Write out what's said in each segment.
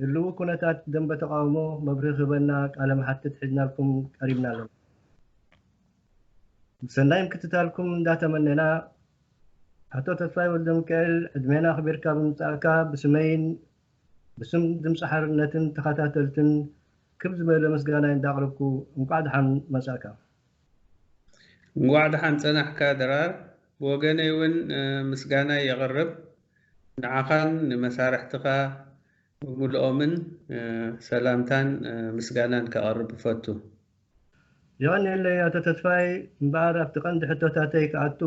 ህልዊ ኩነታት ደንበ ተቃውሞ መብርሂ ክህበና ቃለ መሓትት ሒዝናልኩም ቀሪብና ኣለና። ሰናይ ምክትታልኩም እንዳተመነና ኣቶ ተስፋይ ወልደሚካኤል ዕድሜና ኣኽቢርካ ብምምጻእካ ብስመይን ብስም ድምፂ ሓርነትን ተኸታተልትን ክብ ዝበለ ምስጋናይ እንዳቕረብኩ እንቋዕ ደሓን መጻእካ። እንቋዕ ደሓን ጸናሕካ ድራር። ብወገነይ እውን ምስጋናይ የቕርብ። ንዓኻን ንመሳርሕትኻ ብምሉኦምን ሰላምታን ምስጋናን ከቕርብ እፈቱ። የቐንየለይ ኣቶ ተስፋይ፣ እምበኣር ኣብቲ ቀንዲ ሕቶታተይ ክኣቱ፣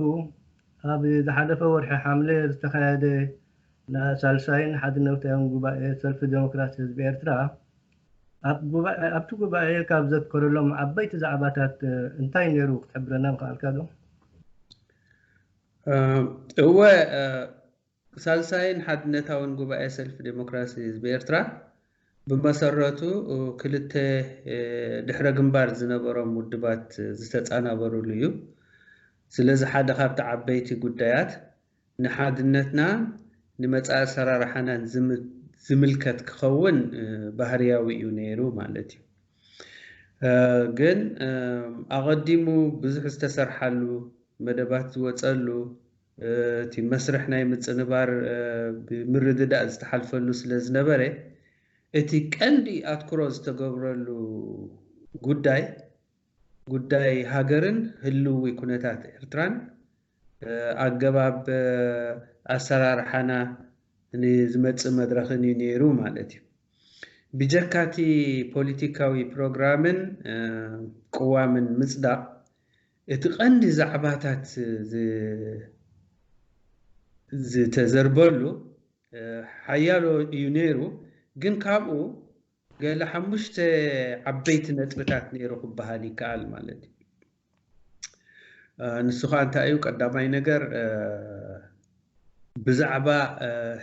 ኣብ ዝሓለፈ ወርሒ ሓምለ ዝተኻየደ ናይ ሳልሳይን ሓድነውታዊን ጉባኤ ሰልፊ ደሞክራሲ ህዝቢ ኤርትራ፣ ኣብቲ ጉባኤ ካብ ዘትከረሎም ዓበይቲ ዛዕባታት እንታይ ነይሩ ክትሕብረና ምኸኣልካዶ? እወ ሳልሳይን ሓድነታውን ጉባኤ ሰልፊ ዴሞክራሲ ህዝቢ ኤርትራ ብመሰረቱ ክልተ ድሕረ ግንባር ዝነበሮም ውድባት ዝተጻናበሩሉ እዩ። ስለዚ ሓደ ካብቲ ዓበይቲ ጉዳያት ንሓድነትና ንመጻኢ ኣሰራርሓናን ዝምልከት ክኸውን ባህርያዊ እዩ ነይሩ ማለት እዩ። ግን ኣቐዲሙ ብዙሕ ዝተሰርሓሉ፣ መደባት ዝወጸሉ፣ እቲ መስርሕ ናይ ምጽንባር ብምርድዳእ ዝተሓልፈሉ ስለ ዝነበረ፣ እቲ ቀንዲ ኣትኩሮ ዝተገብረሉ ጉዳይ፣ ጉዳይ ሃገርን ህልዊ ኩነታት ኤርትራን፣ ኣገባብ ኣሰራርሓና ን ዝመጽእ መድረኽን እዩ ነይሩ ማለት እዩ። ብጀካ እቲ ፖሊቲካዊ ፕሮግራምን ቅዋምን ምጽዳቕ፣ እቲ ቀንዲ ዛዕባታት ዝተዘርበሉ ሓያሎ እዩ ነይሩ፣ ግን ካብኡ ገለ ሓሙሽተ ዓበይቲ ነጥብታት ነይሩ ክበሃል ይከኣል ማለት እዩ። ንሱ ከዓ እንታይ እዩ? ቀዳማይ ነገር ብዛዕባ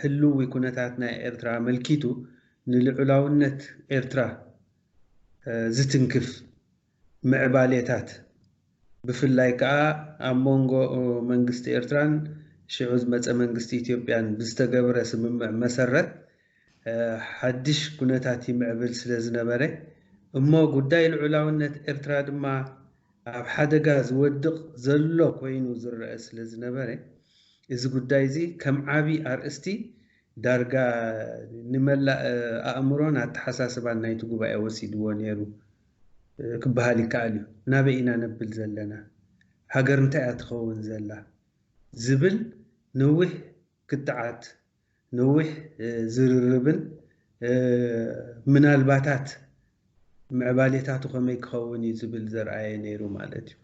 ህልዊ ኩነታት ናይ ኤርትራ ኣመልኪቱ ንልዑላውነት ኤርትራ ዝትንክፍ ምዕባሌታት ብፍላይ ከኣ ኣብ መንጎ መንግስቲ ኤርትራን ሽዑ ዝመጸ መንግስቲ ኢትዮጵያን ብዝተገብረ ስምምዕ መሰረት ሓድሽ ኩነታት ይምዕብል ስለ ዝነበረ እሞ ጉዳይ ልዑላውነት ኤርትራ ድማ ኣብ ሓደጋ ዝወድቕ ዘሎ ኮይኑ ዝረኣ ስለ ዝነበረ እዚ ጉዳይ'ዚ ከም ዓቢ ኣርእስቲ ዳርጋ ንመላእ ኣእምሮን ኣተሓሳስባን ናይቲ ጉባኤ ወሲድዎ ነይሩ። ክበሃል ይከኣል እዩ። ናበይ ኢና ነብል ዘለና? ሃገር እንታይ እያ ትኸውን ዘላ? ዝብል ነዊሕ ክትዓት፣ ነዊሕ ዝርርብን ምናልባታት ምዕባሌታቱ ከመይ ክኸውን እዩ ዝብል ዘርኣየ ነይሩ ማለት እዩ።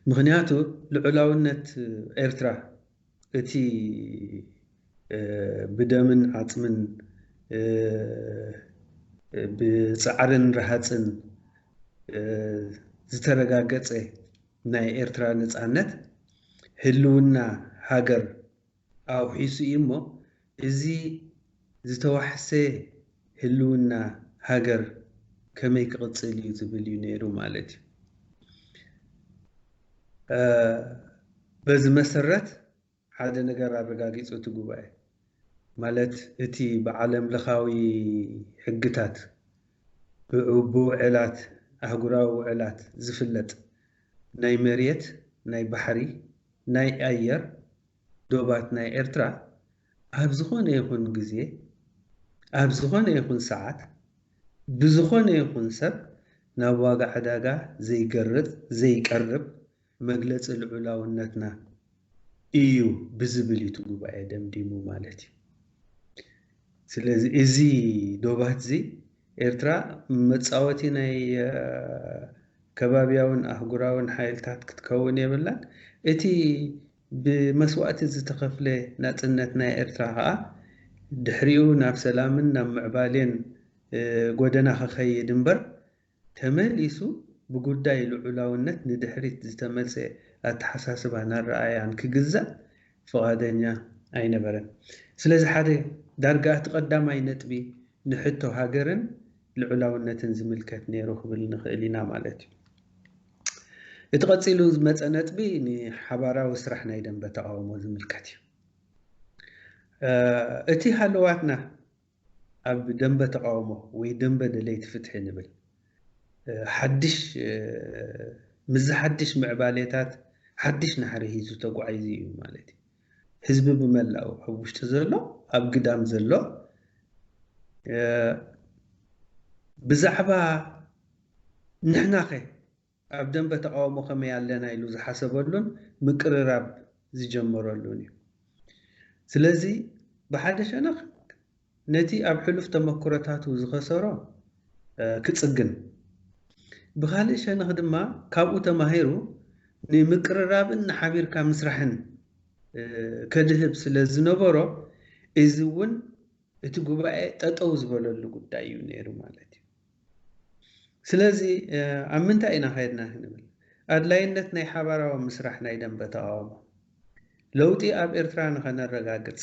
ምኽንያቱ ልዑላውነት ኤርትራ፣ እቲ ብደምን ዓጽምን ብጻዕርን ረሃጽን ዝተረጋገጸ ናይ ኤርትራ ነጻነት፣ ህልውና ሃገር ኣውሒሱ እዩ እሞ፣ እዚ ዝተዋሕሰ ህልውና ሃገር ከመይ ክቕፅል እዩ ዝብል እዩ ነይሩ ማለት እዩ። በዚ መሰረት ሓደ ነገር ኣረጋጊፁ እቲ ጉባኤ ማለት እቲ ብዓለም ለኻዊ ሕግታት ብውዕላት ኣህጉራዊ ውዕላት ዝፍለጥ ናይ መሬት፣ ናይ ባሕሪ፣ ናይ ኣየር፣ ዶባት ናይ ኤርትራ ኣብ ዝኾነ ይኹን ግዜ ኣብ ዝኾነ ይኹን ሰዓት ብዝኾነ ይኹን ሰብ ናብ ዋጋ ዕዳጋ ዘይገርጽ ዘይቀርብ መግለጺ ልዑላውነትና ኢዩ ብዝብል ኢዩ እቲ ጉባኤ ደምዲሙ ማለት ኢዩ። ስለዚ እዚ ዶባትዚ ኤርትራ መጻወቲ ናይ ከባብያውን ኣህጉራውን ሓይልታት ክትከውን የብላን። እቲ ብመስዋእቲ ዝተኸፍለ ናጽነት ናይ ኤርትራ ከኣ ድሕሪኡ ናብ ሰላምን ናብ ምዕባሌን ጎደና ክኸይድ እምበር ተመሊሱ ብጉዳይ ልዑላውነት ንድሕሪት ዝተመልሰ ኣተሓሳስባን ኣረኣእያን ክግዛእ ፍቓደኛ ኣይነበረን። ስለዚ ሓደ ዳርጋ እቲ ቀዳማይ ነጥቢ ንሕቶ ሃገርን ልዑላውነትን ዝምልከት ነይሩ ክብል ንኽእል ኢና ማለት እዩ። እቲ ቀጺሉ ዝመጸ ነጥቢ ንሓባራዊ ስራሕ ናይ ደንበ ተቓውሞ ዝምልከት እዩ። እቲ ሃለዋትና ኣብ ደንበ ተቓውሞ ወይ ደንበ ደለይቲ ፍትሒ ንብል ሓድሽ ምስዚ ሓድሽ ምዕባሌታት ሓድሽ ናህሪ ሂዙ ተጓዒዙ እዩ ማለት እዩ። ህዝቢ ብመላኡ ኣብ ውሽጢ ዘሎ ኣብ ግዳም ዘሎ ብዛዕባ ንሕናኸ ኣብ ደምበ ተቓውሞ ከመይ ኣለና ኢሉ ዝሓሰበሉን ምቅርራብ ዝጀመረሉን እዩ። ስለዚ ብሓደ ሸነኽ ነቲ ኣብ ሕሉፍ ተመክሮታቱ ዝኸሰሮ ክጽግን፣ ብኻልእ ሸነኽ ድማ ካብኡ ተማሂሩ ንምቅርራብን ንሓቢርካ ምስራሕን ከድህብ ስለ ዝነበሮ እዚ እውን እቲ ጉባኤ ጠጠው ዝበለሉ ጉዳይ እዩ ነይሩ ማለት እዩ። ስለዚ ኣብ ምንታይ ኢና ከይድና ክንብል ኣድላይነት ናይ ሓባራዊ ምስራሕ ናይ ደምበ ተቓውሞ ለውጢ ኣብ ኤርትራ ንኸነረጋግጽ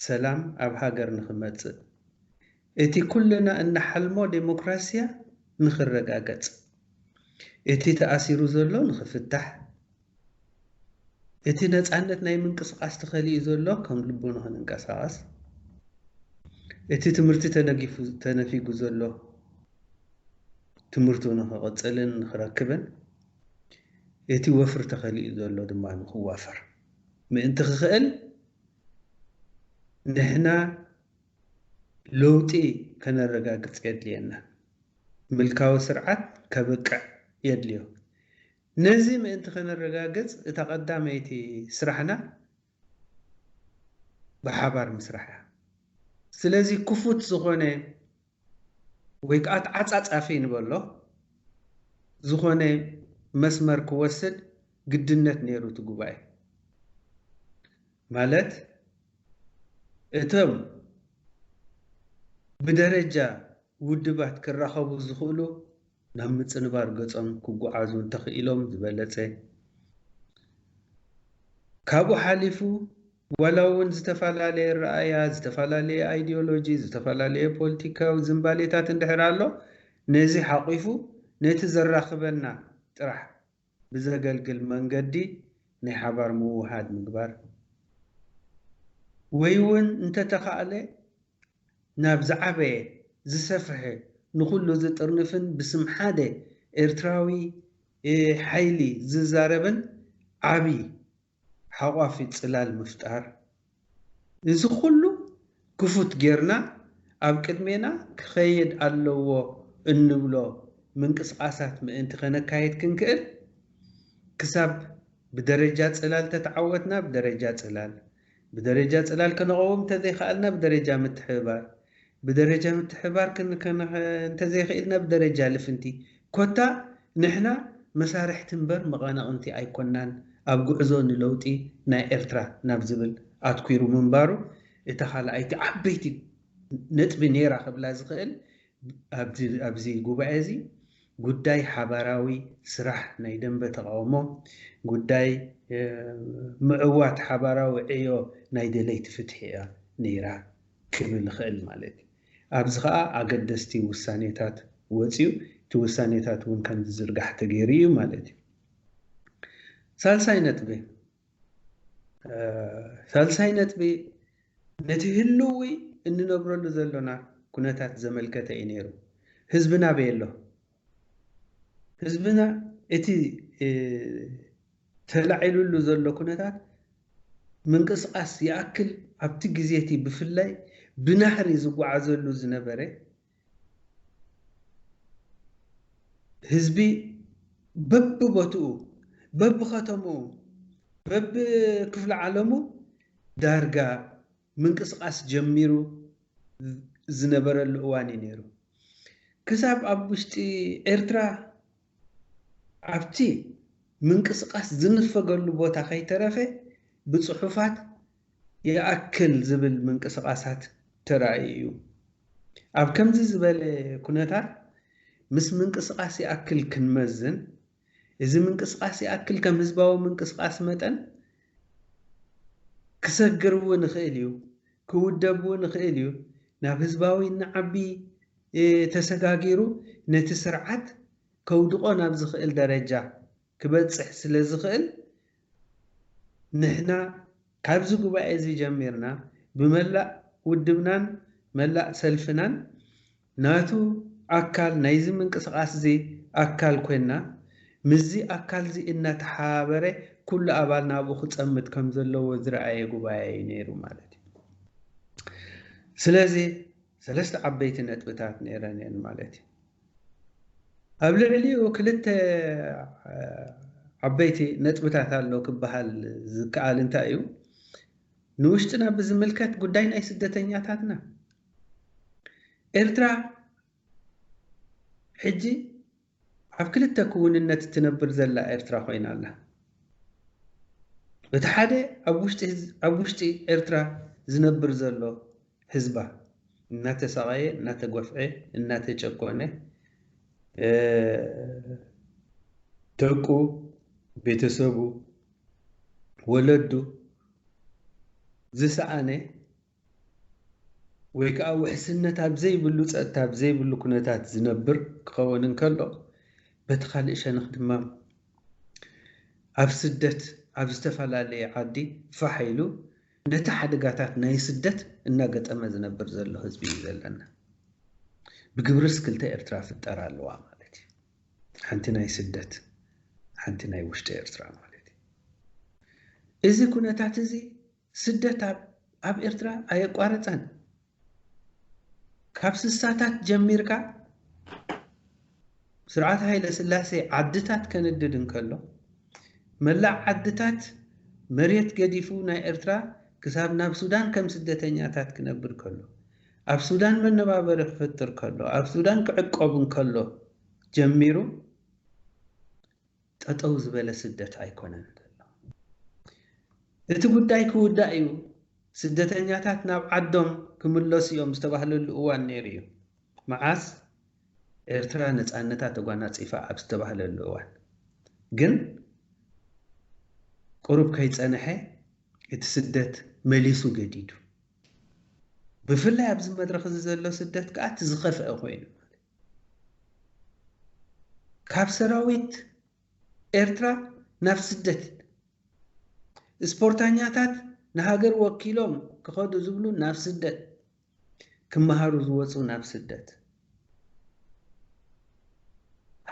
ሰላም ኣብ ሃገር ንኽመጽእ እቲ ኩልና እንሓልሞ ደሞክራሲያ ንኽረጋገጽ እቲ ተኣሲሩ ዘሎ ንኽፍታሕ እቲ ነጻነት ናይ ምንቅስቓስ ተኸሊኡ ዘሎ ከም ልቡ ንኽንንቀሳቐስ፣ እቲ ትምህርቲ ተነጊፉ ተነፊጉ ዘሎ ትምህርቱ ንኽቕጽልን ንኽረክብን፣ እቲ ወፍሪ ተኸሊኡ ዘሎ ድማ ንኽዋፈር ምእንቲ ክኽእል ንሕና ለውጢ ከነረጋግጽ የድልየና። ምልካዊ ስርዓት ከብቅዕ የድልዮ። ነዚ ምእንቲ ከነረጋግጽ እታ ቀዳመይቲ ስራሕና ብሓባር ምስራሕ እያ። ስለዚ ክፉት ዝኾነ ወይ ከኣ ተዓጻጻፊ ንበሎ ዝኾነ መስመር ክወስድ ግድነት ነይሩ እቲ ጉባኤ። ማለት እቶም ብደረጃ ውድባት ክራኸቡ ዝኽእሉ፣ ናብ ምጽንባር ገጾም ክጉዓዙ እንተኽኢሎም ዝበለጸ ካብኡ ሓሊፉ ዋላ ውን ዝተፈላለየ ኣረኣእያ፣ ዝተፈላለየ ኣይዲዮሎጂ፣ ዝተፈላለየ ፖልቲካዊ ዝንባሌታት እንድሕር ኣሎ ነዚ ሓቝፉ ነቲ ዘራኽበና ጥራሕ ብዘገልግል መንገዲ ናይ ሓባር ምውህሃድ ምግባር፣ ወይ'ውን እንተተኻእለ ናብ ዝዓበየ፣ ዝሰፍሐ፣ ንኹሉ ዝጥርንፍን ብስም ሓደ ኤርትራዊ ሓይሊ ዝዛረብን ዓቢ ሓቋፊ ጽላል ምፍጣር፣ እዚ ኩሉ ክፉት ጌርና ኣብ ቅድሜና ክኸየድ ኣለዎ እንብሎ ምንቅስቓሳት ምእንቲ ከነካይድ ክንክእል፣ ክሳብ ብደረጃ ጽላል ተተዓወትና ብደረጃ ጽላል፣ ብደረጃ ጽላል ከነቐውም እንተዘይኸኣልና ብደረጃ ምትሕብባር፣ ብደረጃ ምትሕብባር ክንከ እንተዘይክኢልና ብደረጃ ልፍንቲ፣ ኮታ ንሕና መሳርሕቲ እምበር መቐነቕንቲ ኣይኮናን ኣብ ጉዕዞ ንለውጢ ናይ ኤርትራ ናብ ዝብል ኣትኲሩ ምንባሩ እታ ካልኣይቲ ዓበይቲ ነጥቢ ነይራ ክብላ ዝኽእል ኣብዚ ጉባኤ እዚ ጉዳይ ሓባራዊ ስራሕ ናይ ደምበ ተቓውሞ፣ ጉዳይ ምዕዋት ሓባራዊ ዕዮ ናይ ደለይቲ ፍትሒ እያ ነይራ ክብል እኽእል ማለት እዩ። ኣብዚ ከኣ ኣገደስቲ ውሳኔታት ወጺኡ፣ እቲ ውሳኔታት እውን ከም ዝዝርጋሕ ተገይሩ እዩ ማለት እዩ። ሳልሳይ ነጥቢ። ሳልሳይ ነጥቢ ነቲ ህልዊ እንነብረሉ ዘሎና ኩነታት ዘመልከተ እዩ ነይሩ። ህዝብና ኣበይ ኣሎ? ህዝብና እቲ ተላዒሉሉ ዘሎ ኩነታት ምንቅስቓስ ይኣክል ኣብቲ ግዜ እቲ ብፍላይ ብናህሪ ዝጓዓዘሉ ዝነበረ ህዝቢ በብቦትኡ፣ በብኸተምኡ፣ በብክፍለዓለሙ ዳርጋ ምንቅስቓስ ጀሚሩ ዝነበረሉ እዋን እዩ ነይሩ። ክሳብ ኣብ ውሽጢ ኤርትራ ኣብቲ ምንቅስቓስ ዝንፈገሉ ቦታ ከይተረፈ ብጽሑፋት ይኣክል ዝብል ምንቅስቓሳት ተራእዩ እዩ። ኣብ ከምዚ ዝበለ ኩነታት ምስ ምንቅስቓስ ይኣክል ክንመዝን፣ እዚ ምንቅስቓስ ይኣክል ከም ህዝባዊ ምንቅስቓስ መጠን ክሰግር እውን ይኽእል እዩ፣ ክውደብ እውን ይኽእል እዩ፣ ናብ ህዝባዊ እናዓቢ፣ ተሰጋጊሩ ነቲ ስርዓት ከውድቖ ናብ ዝኽእል ደረጃ ክበጽሕ ስለ ዝኽእል፣ ንሕና ካብዚ ጉባኤ'ዚ ጀሚርና ብመላእ ውድብናን መላእ ሰልፍናን ናቱ ኣካል ናይዚ ምንቅስቓስ'ዚ ኣካል ኮይንና ምስዚ ኣካል'ዚ እናተሓባበረ ኩሉ ኣባል ናብኡ ክጸምት ከም ዘለዎ ዝረኣየ ጉባኤ'ዩ ነይሩ ማለት'ዩ። ስለዚ። ሰለስተ ዓበይቲ ነጥብታት ነይረን እየን ማለት እዩ። ኣብ ልዕሊኡ ክልተ ዓበይቲ ነጥብታት ኣሎ ክበሃል ዝከኣል እንታይ እዩ? ንውሽጥና ብዝምልከት ጉዳይ ናይ ስደተኛታትና ኤርትራ ሕጂ ኣብ ክልተ ክውንነት እትነብር ዘላ ኤርትራ ኮይና ኣላ። በቲ ሓደ ኣብ ውሽጢ ኣብ ውሽጢ ኤርትራ ዝነብር ዘሎ ህዝባ እናተሳቐየ፣ እናተጎፍዔ፣ እናተጨቆነ ደቁ፣ ቤተሰቡ፣ ወለዱ ዝሰኣነ ወይ ከኣ ውሕስነት ኣብ ዘይብሉ ጸጥታ ኣብ ዘይብሉ ኩነታት ዝነብር ክኸውን እንከሎ፣ በቲ ካልእ ሸነኽ ድማ ኣብ ስደት ኣብ ዝተፈላለየ ዓዲ ፋሕ ኢሉ ነቲ ሓደጋታት ናይ ስደት እናገጠመ ዝነብር ዘሎ ህዝቢ እዩ ዘለና። ብግብርስ ክልተ ኤርትራ ፍጠራ ኣለዋ ማለት እዩ። ሓንቲ ናይ ስደት ሓንቲ ናይ ውሽጢ ኤርትራ ማለት እዩ። እዚ ኩነታት እዚ ስደት ኣብ ኤርትራ ኣየቋረጸን። ካብ ስሳታት ጀሚርካ ስርዓት ሃይለስላሴ ዓድታት ከንድድ እንከሎ፣ መላእ ዓድታት መሬት ገዲፉ ናይ ኤርትራ ክሳብ ናብ ሱዳን ከም ስደተኛታት ክነብር ከሎ፣ ኣብ ሱዳን መነባበሪ ክፍጥር ከሎ፣ ኣብ ሱዳን ክዕቆብ እንከሎ ጀሚሩ፣ ጠጠው ዝበለ ስደት ኣይኮነን ዘሎ። እቲ ጉዳይ ክውዳእ እዩ፣ ስደተኛታት ናብ ዓዶም ክምለሱ እዮም ዝተባህለሉ እዋን ነይሩ እዩ። መዓስ? ኤርትራ ነጻነታ ተጓናጺፋ ኣብ ዝተባህለሉ እዋን። ግን ቁሩብ ከይጸነሐ እቲ ስደት መሊሱ ገዲዱ። ብፍላይ ኣብዚ መድረኽ እዚ ዘሎ ስደት ከኣ እቲ ዝኸፍኣ ኮይኑ ማለት እዩ። ካብ ሰራዊት ኤርትራ ናብ ስደት፣ ስፖርታኛታት ንሃገር ወኪሎም ክኸዱ ዝብሉ ናብ ስደት፣ ክመሃሩ ዝወጹ ናብ ስደት፣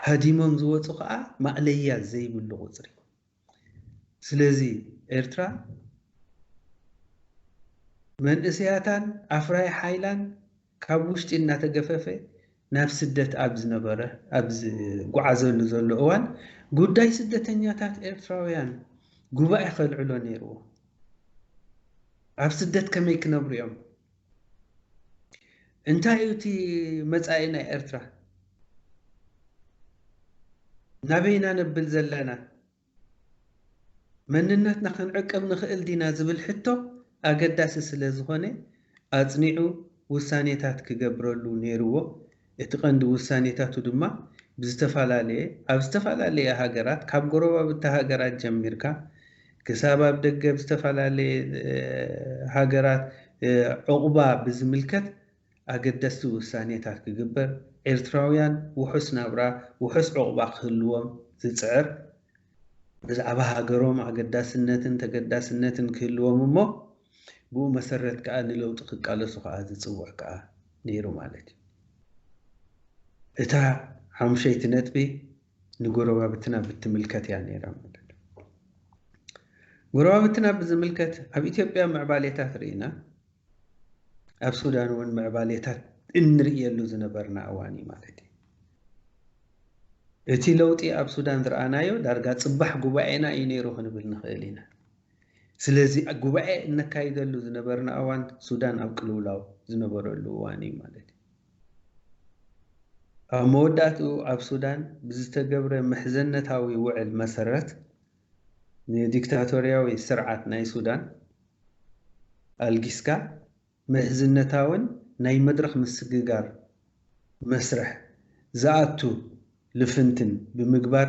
ሃዲሞም ዝወጹ ከኣ ማእለያ ዘይብሉ ቁጽሪ። ስለዚ ኤርትራ መንእሰያታን ኣፍራዪ ሓይላን ካብ ውሽጢ እናተገፈፈ ናብ ስደት ኣብ ዝነበረ ኣብ ዝጓዓዘሉ ዘሎ እዋን ጉዳይ ስደተኛታት ኤርትራውያን ጉባኤ ከልዕሎ ነይርዎ። ኣብ ስደት ከመይ ክነብሩ እዮም? እንታይ እዩ እቲ መጻኢ ናይ ኤርትራ? ናበይ ኢና ነብል ዘለና? መንነትና ክንዕቅብ ንኽእል ዲና ዝብል ሕቶ ኣገዳሲ ስለዝኾነ ኣጽኒዑ ውሳኔታት ክገብረሉ ነይርዎ እቲ ቀንዲ ውሳኔታቱ ድማ ብዝተፈላለየ ኣብ ዝተፈላለየ ሃገራት ካብ ጎረባብቲ ሃገራት ጀሚርካ ክሳብ ኣብ ደገ ኣብ ዝተፈላለየ ሃገራት ዑቕባ ብዝምልከት ኣገደስቲ ውሳኔታት ክግበር ኤርትራውያን ውሑስ ናብራ ውሑስ ዑቕባ ክህልዎም ዝጽዕር ብዛዕባ ሃገሮም ኣገዳስነትን ተገዳስነትን ክህልዎም እሞ ብኡ መሰረት ከኣ ንለውጢ ክቃለሱ ከኣ ዝጽውዕ ከኣ ነይሩ ማለት እዩ። እታ ሓሙሸይቲ ነጥቢ ንጎረባብትና ብትምልከት እያ ነይራ ማለት እዩ። ጎረባብትና ብዝምልከት ኣብ ኢትዮጵያ ምዕባሌታት ርኢና፣ ኣብ ሱዳን እውን ምዕባሌታት እንርእየሉ ዝነበርና እዋን እዩ ማለት እዩ። እቲ ለውጢ ኣብ ሱዳን ዝረኣናዮ ዳርጋ ፅባሕ ጉባኤና እዩ ነይሩ ክንብል ንኽእል ኢና። ስለዚ ጉባኤ እነካይደሉ ዝነበርና እዋን ሱዳን ኣብ ቅልውላው ዝነበረሉ እዋን እዩ ማለት እዩ። ኣብ መወዳእትኡ ኣብ ሱዳን ብዝተገብረ ምሕዘነታዊ ውዕል መሰረት ንዲክታቶርያዊ ስርዓት ናይ ሱዳን ኣልጊስካ ምሕዝነታዊን ናይ መድረኽ ምስግጋር መስርሕ ዝኣቱ ልፍንትን ብምግባር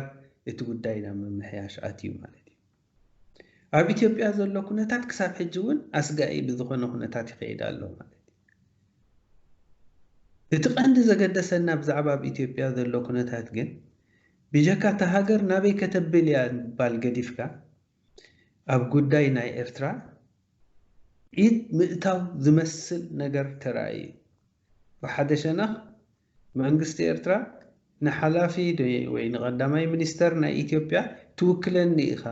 እቲ ጉዳይ ናብ ምምሕያሽ ኣትዩ ማለት እዩ። ኣብ ኢትዮጵያ ዘሎ ኩነታት ክሳብ ሕጂ እውን ኣስጋኢ ብዝኾነ ኩነታት ይኸይድ ኣሎ ማለት እዩ። እቲ ቀንዲ ዘገደሰና ብዛዕባ ኣብ ኢትዮጵያ ዘሎ ኩነታት ግን ብጀካ እታ ሃገር ናበይ ከተብል እያ ምባል ገዲፍካ ኣብ ጉዳይ ናይ ኤርትራ ኢድ ምእታው ዝመስል ነገር ተራእዩ እዩ። ብሓደ ሸነኽ መንግስቲ ኤርትራ ንሓላፊ ወይ ንቀዳማይ ሚኒስተር ናይ ኢትዮጵያ ትውክለኒ ኢኻ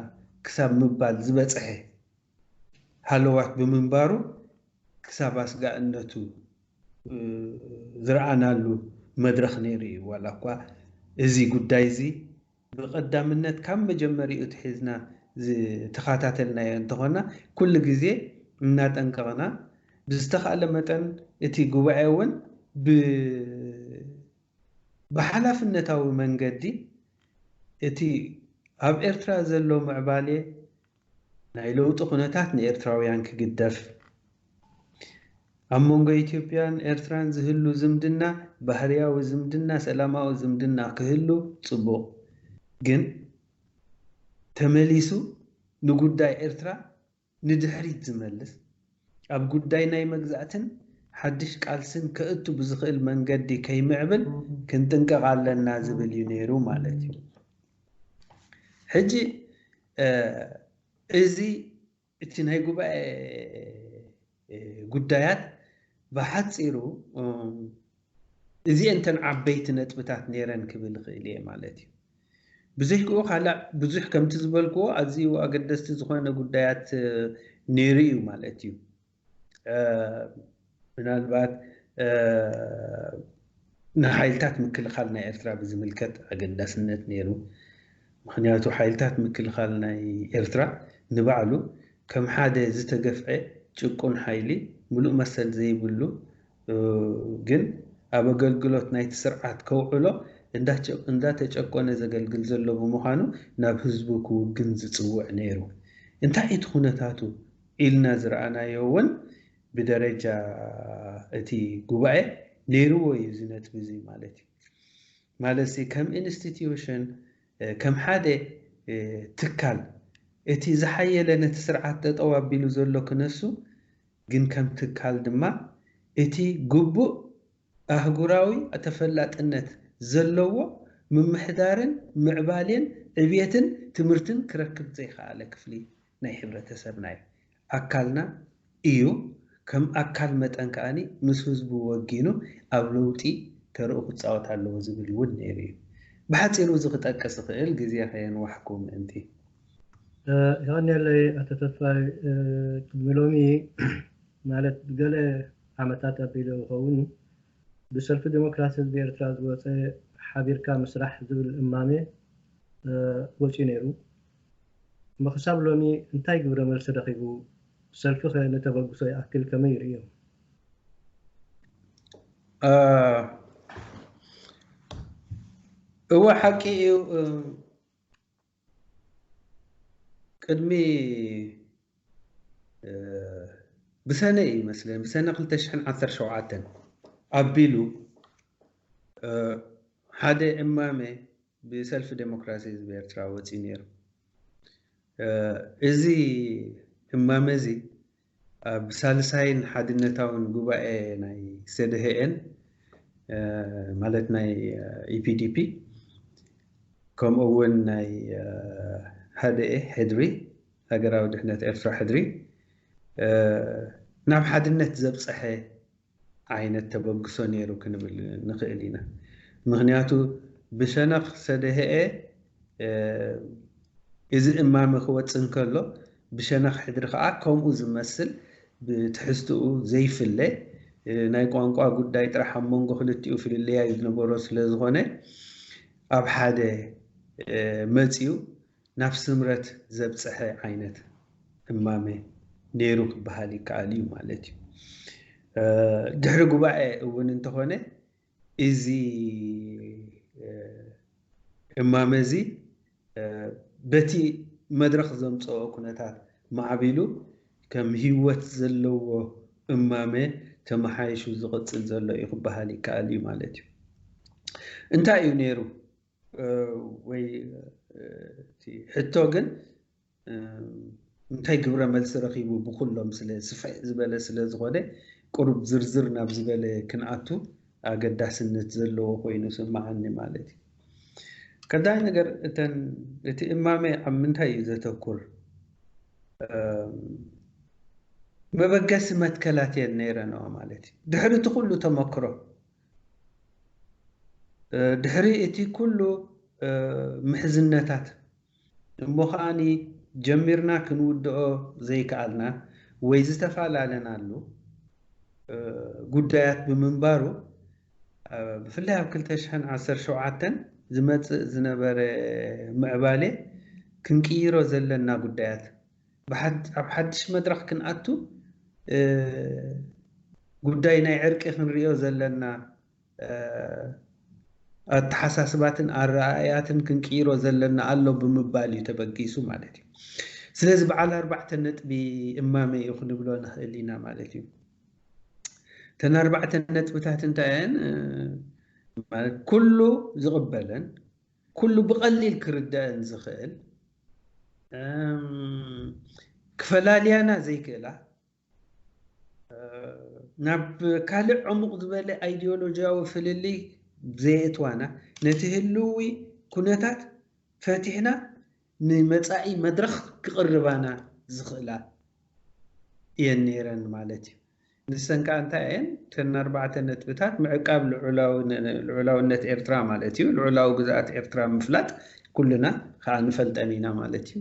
ክሳብ ምባል ዝበጸሐ ሃለዋት ብምንባሩ ክሳብ ኣስጋእነቱ ዝረኣናሉ መድረኽ ነይሩ እዩ ዋላኳ እዚ ጉዳይዚ ብቐዳምነት ካብ መጀመሪኡ ኣትሒዝና ዝተኻታተልናዮ እንተኾና ኩሉ ግዜ እናጠንቀቕና ብዝተኻእለ መጠን እቲ ጉባኤ እውን ብ ብሓላፍነታዊ መንገዲ እቲ ኣብ ኤርትራ ዘሎ ምዕባሌ ናይ ለውጢ ኩነታት ንኤርትራውያን ክግደፍ፣ ኣብ መንጎ ኢትዮጵያን ኤርትራን ዝህሉ ዝምድና ባህርያዊ ዝምድና ሰላማዊ ዝምድና ክህሉ ጽቡቕ ግን ተመሊሱ ንጉዳይ ኤርትራ ንድሕሪት ዝመልስ ኣብ ጉዳይ ናይ መግዛእትን ሓድሽ ቃልስን ከእቱ ብዝኽእል መንገዲ ከይምዕብል ክንጥንቀቕ ኣለና ዝብል እዩ ነይሩ ማለት እዩ። ሕጂ እዚ እቲ ናይ ጉባኤ ጉዳያት ብሓጺሩ እዚኤን እተን ዓበይቲ ነጥብታት ነይረን ክብል እኽእል እየ ማለት እዩ። ብዝሕክኡ ካልእ ብዙሕ ከምቲ ዝበልክዎ ኣዝዩ ኣገደስቲ ዝኾነ ጉዳያት ነይሩ እዩ ማለት እዩ። ምናልባት ንሓይልታት ምክልኻል ናይ ኤርትራ ብዝምልከት ኣገዳስነት ነይሩ። ምክንያቱ ሓይልታት ምክልኻል ናይ ኤርትራ ንባዕሉ ከም ሓደ ዝተገፍዐ ጭቁን ሓይሊ ምሉእ መሰል ዘይብሉ ግን ኣብ ኣገልግሎት ናይቲ ስርዓት ከውዕሎ እንዳተጨቆነ ዘገልግል ዘሎ ብምዃኑ ናብ ህዝቡ ክውግን ዝጽውዕ ነይሩ። እንታይ እዩ እቲ ኩነታቱ ኢልና ዝረኣናዮ እውን ብደረጃ እቲ ጉባኤ ነይርዎ እዩ እዚ ነጥቢ እዚ ማለት እዩ። ማለትሲ ከም ኢንስቲትዩሽን ከም ሓደ ትካል እቲ ዝሓየለ ነቲ ስርዓት ጠጠው ኣቢሉ ዘሎ ክነሱ ግን ከም ትካል ድማ እቲ ግቡእ ኣህጉራዊ ተፈላጥነት ዘለዎ ምምሕዳርን ምዕባሌን ዕብየትን ትምህርትን ክረክብ ዘይኸኣለ ክፍሊ ናይ ሕብረተሰብና እዩ። ኣካልና እዩ፣ ከም ኣካል መጠን ከኣ ምስ ህዝቡ ወጊኑ ኣብ ለውጢ ተርኡ ክጻወት ኣለዎ ዝብል እውን ነይሩ እዩ። ብሓጺሩ እዚ ክጠቅስ ዝኽእል ግዜ ከየንዋሕኩ ምእንቲ። የቐንየለይ ኣቶ ተስፋይ ቅድሚ ሎሚ ማለት ገለ ዓመታት ኣቢሉ ይኸውን ብሰልፊ ዴሞክራሲ ህዝቢ ኤርትራ ዝወጸ ሓቢርካ ምስራሕ ዝብል እማመ ወጺኡ ነይሩ እሞ ክሳብ ሎሚ እንታይ ግብረ መልሲ ረኺቡ ሰልፊኸ ንተበግሶ ይኣክል ከመይ ይርእዮ? እወ ሓቂ እዩ። ቅድሚ ብሰነ እዩ መስለኒ ብሰነ ክልተ ሽሕን ዓሰርተ ሸውዓተን ኣቢሉ ሓደ እማመ ብሰልፊ ዴሞክራሲ ህዝቢ ኤርትራ ወጺኡ ነይሩ። እዚ እማመ እዚ ኣብ ሳልሳይን ሓድነታውን ጉባኤ ናይ ሰደህኤን ማለት ናይ EPDP ከምኡ እውን ናይ ሃደኤ ሕድሪ ሃገራዊ ድሕነት ኤርትራ ሕድሪ ናብ ሓድነት ዘብጸሐ ዓይነት ተበግሶ ነይሩ ክንብል ንኽእል ኢና። ምኽንያቱ ብሸነኽ ሰደህኤ እዚ እማመ ክወጽእ እንከሎ፣ ብሸነኽ ሕድሪ ከኣ ከምኡ ዝመስል ብትሕዝትኡ ዘይፍለ ናይ ቋንቋ ጉዳይ ጥራሕ ኣብ መንጎ ክልቲኡ ፍልልያይ ዝነበሮ ስለዝኾነ ኣብ ሓደ መጺኡ ናብ ስምረት ዘብጸሐ ዓይነት እማመ ነይሩ ክበሃል ይከኣል እዩ ማለት እዩ። ድሕሪ ጉባኤ እውን እንተኾነ እዚ እማመ እዚ በቲ መድረኽ ዘምጸኦ ኩነታት ማዕቢሉ ከም ህይወት ዘለዎ እማመ ተመሓይሹ ዝቕጽል ዘሎ እዩ ክበሃል ይከኣል እዩ ማለት እዩ። እንታይ እዩ ነይሩ ወይ እቲ ሕቶ ግን እንታይ ግብረ መልሲ ረኺቡ ብኩሎም ስለ ስፍሕ ዝበለ ስለ ዝኾነ ቁሩብ ዝርዝር ናብ ዝበለ ክንኣቱ ኣገዳስነት ዘለዎ ኮይኑ ስምዓኒ ማለት እዩ። ቀዳይ ነገር እተን እቲ እማመ ኣብ ምንታይ እዩ ዘተኩር መበገሲ መትከላት እየን ነይረንኦ ማለት እዩ። ድሕሪ እቲ ኩሉ ተመክሮ ድሕሪ እቲ ኩሉ ምሕዝነታት እሞ ከኣኒ ጀሚርና ክንውድኦ ዘይከኣልና ወይ ዝተፋላለናሉ ጉዳያት ብምንባሩ ብፍላይ ኣብ ክልተ ሽሕን ዓሰርተ ሸውዓተን ዝመጽእ ዝነበረ ምዕባሌ ክንቅይሮ ዘለና ጉዳያት ኣብ ሓድሽ መድረኽ ክንኣቱ ጉዳይ ናይ ዕርቂ ክንሪኦ ዘለና ኣተሓሳስባትን ኣረኣእያትን ክንቅይሮ ዘለና ኣሎ ብምባል እዩ ተበጊሱ ማለት እዩ። ስለዚ በዓል ኣርባዕተ ነጥቢ እማመ እዩ ክንብሎ ንኽእል ኢና ማለት እዩ። እተን ኣርባዕተ ነጥብታት እንታይ እየን? ማለት ኩሉ ዝቕበለን ኩሉ ብቐሊል ክርደኣን ዝኽእል ክፈላልያና ዘይክእላ ናብ ካልእ ዕሙቕ ዝበለ ኣይዲዮሎጂያዊ ፍልልይ ዘየእትዋና ነቲ ህልዊ ኩነታት ፈቲሕና ንመጻኢ መድረኽ ክቕርባና ዝኽእላ እየን ነይረን ማለት እዩ። ንሰን ከኣ እንታይ እየን? እተን ኣርባዕተ ነጥብታት ምዕቃብ ልዑላውነት ኤርትራ ማለት እዩ፣ ልዑላዊ ግዝኣት ኤርትራ ምፍላጥ ኩልና ከኣ ንፈልጠን ኢና ማለት እዩ።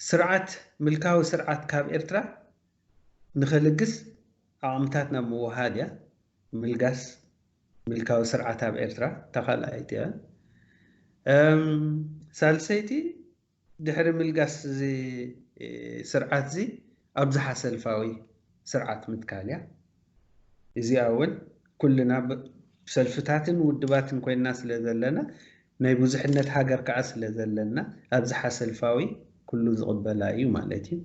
ስርዓት ምልካዊ ስርዓት ካብ ኤርትራ ንኸልግስ ዓቕምታት ናብ ምውሃድ እያ ምልጋስ ምልካዊ ስርዓት ኣብ ኤርትራ እታ ካልኣይቲ እያ። ሳልሰይቲ ድሕሪ ምልጋስ እዚ ስርዓት እዚ ኣብዝሓ ሰልፋዊ ስርዓት ምትካል እያ። እዚኣ እውን ኩልና ሰልፍታትን ውድባትን ኮይንና ስለዘለና ናይ ብዙሕነት ሃገር ከኣ ስለ ዘለና ኣብዝሓ ሰልፋዊ ኩሉ ዝቕበላ እዩ ማለት እዩ።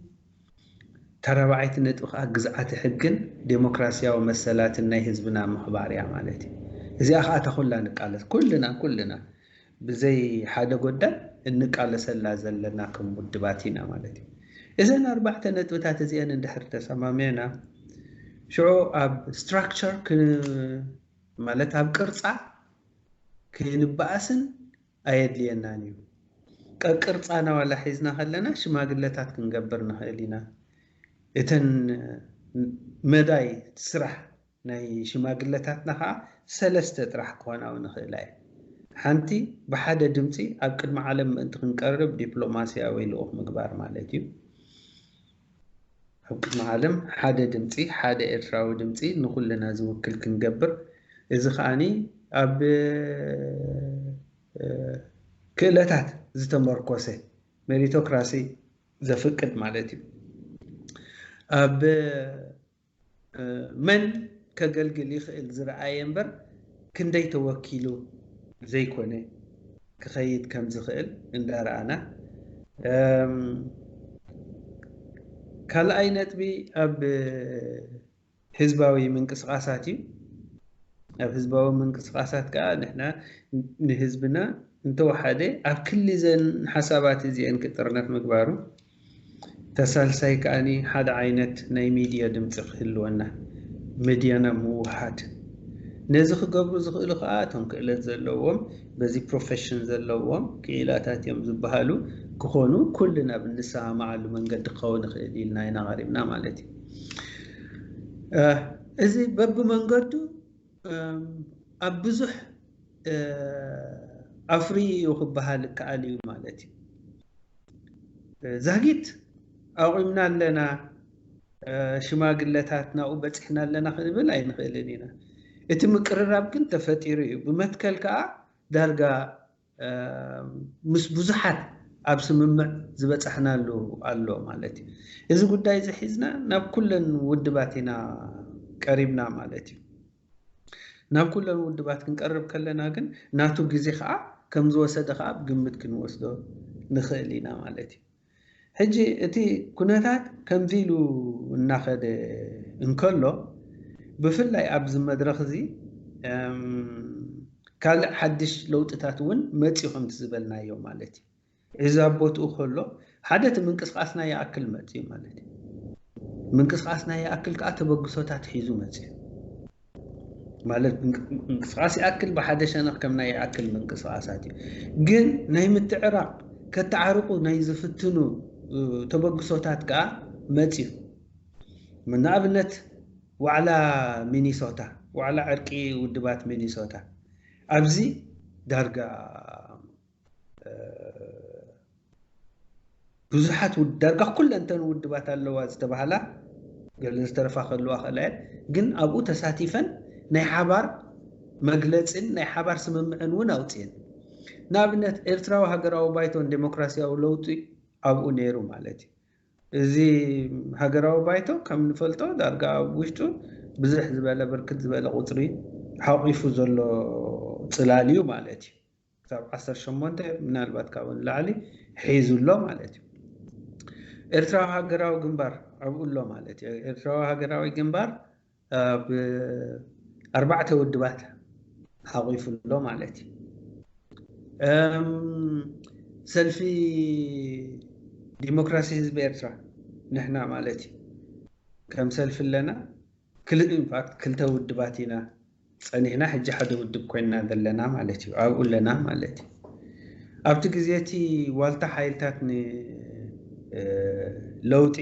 እታ ራብዓይቲ ነጥቢ ከኣ ግዝኣተ ሕግን ደሞክራሲያዊ መሰላትን ናይ ህዝብና ምኽባር እያ ማለት እዩ። እዚኣ ከኣ እታ ኩላ ንቃለስ ኩልና ኩልና ብዘይ ሓደ ጎዳም እንቃለሰላ ዘለና ከም ውድባት ኢና ማለት እዩ። እዘን ኣርባዕተ ነጥብታት እዚኤን እንድሕር ተሰማሚዕና ሽዑ ኣብ ስትራክቸር ማለት ኣብ ቅርጻ ከይንበኣስን ኣየድልየናን እዩ። ቀቅርጻና ዋላ ሒዝና ከለና ሽማግለታት ክንገብር ንኽእል ኢና። እተን መዳይ ስራሕ ናይ ሽማግለታትና ከኣ ሰለስተ ጥራሕ ክኾና እውን ይኽእላ እየን። ሓንቲ ብሓደ ድምጺ ኣብ ቅድሚ ዓለም ምእንቲ ክንቀርብ ዲፕሎማስያዊ ልኡኽ ምግባር ማለት እዩ። ኣብ ቅድሚ ዓለም ሓደ ድምጺ ሓደ ኤርትራዊ ድምጺ ንኹልና ዝውክል ክንገብር እዚ ከኣ ኣብ ክእለታት ዝተመርኮሰ ሜሪቶክራሲ ዘፍቅድ ማለት እዩ ኣብ መን ከገልግል ይኽእል ዝረኣየ እምበር ክንደይ ተወኪሉ ዘይኮነ ክኸይድ ከም ዝኽእል እንዳረኣና ካልኣይ ነጥቢ ኣብ ህዝባዊ ምንቅስቓሳት እዩ ኣብ ህዝባዊ ምንቅስቃሳት ከዓ ንሕና ንህዝብና እንተወሓደ ኣብ ክሊ ዘን ሓሳባት እዚአን ክጥርነፍ ምግባሩ እታ ሳልሳይ ከኣ ሓደ ዓይነት ናይ ሚድያ ድምጺ ክህልወና፣ መድያና ምውህሃድ። ነዚ ክገብሩ ዝኽእሉ ከኣ እቶም ክእለት ዘለዎም፣ በዚ ፕሮፈሽን ዘለዎም ክኢላታት እዮም ዝበሃሉ ክኾኑ ኩልና ኣብ እንሰማማዓሉ መንገዲ ክኸውን ይኽእል ኢልና ኢና ቀሪብና ማለት እዩ። እዚ በብመንገዱ ኣብ ብዙሕ ኣፍርዩ እዩ ክበሃል ይከኣል እዩ ማለት እዩ። ዛጊት ኣቑምና ኣለና፣ ሽማግለታት ናብኡ በፂሕና ኣለና ክንብል ኣይንኽእልን ኢና። እቲ ምቅርራብ ግን ተፈጢሩ እዩ። ብመትከል ከዓ ዳርጋ ምስ ብዙሓት ኣብ ስምምዕ ዝበጻሕናሉ ኣሎ ማለት እዩ። እዚ ጉዳይ እዚ ሒዝና ናብ ኩለን ውድባት ኢና ቀሪብና ማለት እዩ። ናብ ኩለን ውድባት ክንቀርብ ከለና ግን ናቱ ግዜ ከኣ ከም ዝወሰደ ከኣ ኣብ ግምት ክንወስዶ ንኽእል ኢና ማለት እዩ። ሕጂ እቲ ኩነታት ከምዚ ኢሉ እናኸደ እንከሎ ብፍላይ ኣብዚ መድረኽ እዚ ካልእ ሓድሽ ለውጥታት እውን መጺኡ ከምቲ ዝበልናዮ ማለት እዩ። እዚ ኣብ ቦትኡ ከሎ ሓደ እቲ ምንቅስቓስና ይኣክል መጺኡ ማለት እዩ። ምንቅስቓስና ይኣክል ከኣ ተበግሶታት ሒዙ መጺኡ። ማለት ምንቅስቃስ ይኣክል ብሓደ ሸነኽ ከም ናይ ይኣክል ምንቅስቃሳት እዩ ግን ናይ ምትዕራቕ ከተዓርቑ ናይ ዝፍትኑ ተበግሶታት ከዓ መፅዩ ንኣብነት ዋዕላ ሚኒሶታ ዋዕላ ዕርቂ ውድባት ሚኒሶታ ኣብዚ ዳርጋ ብዙሓት ዳርጋ ኩለንተን ውድባት ኣለዋ ዝተባሃላ ገለን ዝተረፋ ከለዋ ከላ ግን ኣብኡ ተሳቲፈን ናይ ሓባር መግለፅን ናይ ሓባር ስምምዕን እውን ኣውፅኤን ንኣብነት ኤርትራዊ ሃገራዊ ባይቶን ዴሞክራሲያዊ ለውጢ ኣብኡ ነይሩ ማለት እዩ እዚ ሃገራዊ ባይቶ ከም ንፈልጦ ዳርጋ ኣብ ውሽጡ ብዝሕ ዝበለ ብርክት ዝበለ ቁፅሪ ሓቂፉ ዘሎ ፅላል እዩ ማለት እዩ ክሳብ ዓሰርተ ሸሞንተ ምናልባት ካብኡ ንላዕሊ ሒዙ ኣሎ ማለት እዩ። ኤርትራዊ ሃገራዊ ግንባር ኣብኡ ኣሎ ማለት እዩ። ኤርትራዊ ሃገራዊ ግንባር ኣብ ኣርባዕተ ውድባት ሓቂፉ ኣሎ ማለት እዩ። ሰልፊ ዲሞክራሲ ህዝቢ ኤርትራ ንሕና ማለት እዩ ከም ሰልፊ ኣለና። ኢንፋክት ክልተ ውድባት ኢና ጸኒሕና ሕጂ ሓደ ውድብ ኮይንና ዘለና ማለት እዩ ኣብኡ ኣለና ማለት እዩ ኣብቲ ግዜ እቲ ዋልታ ሓይልታት ን ለውጢ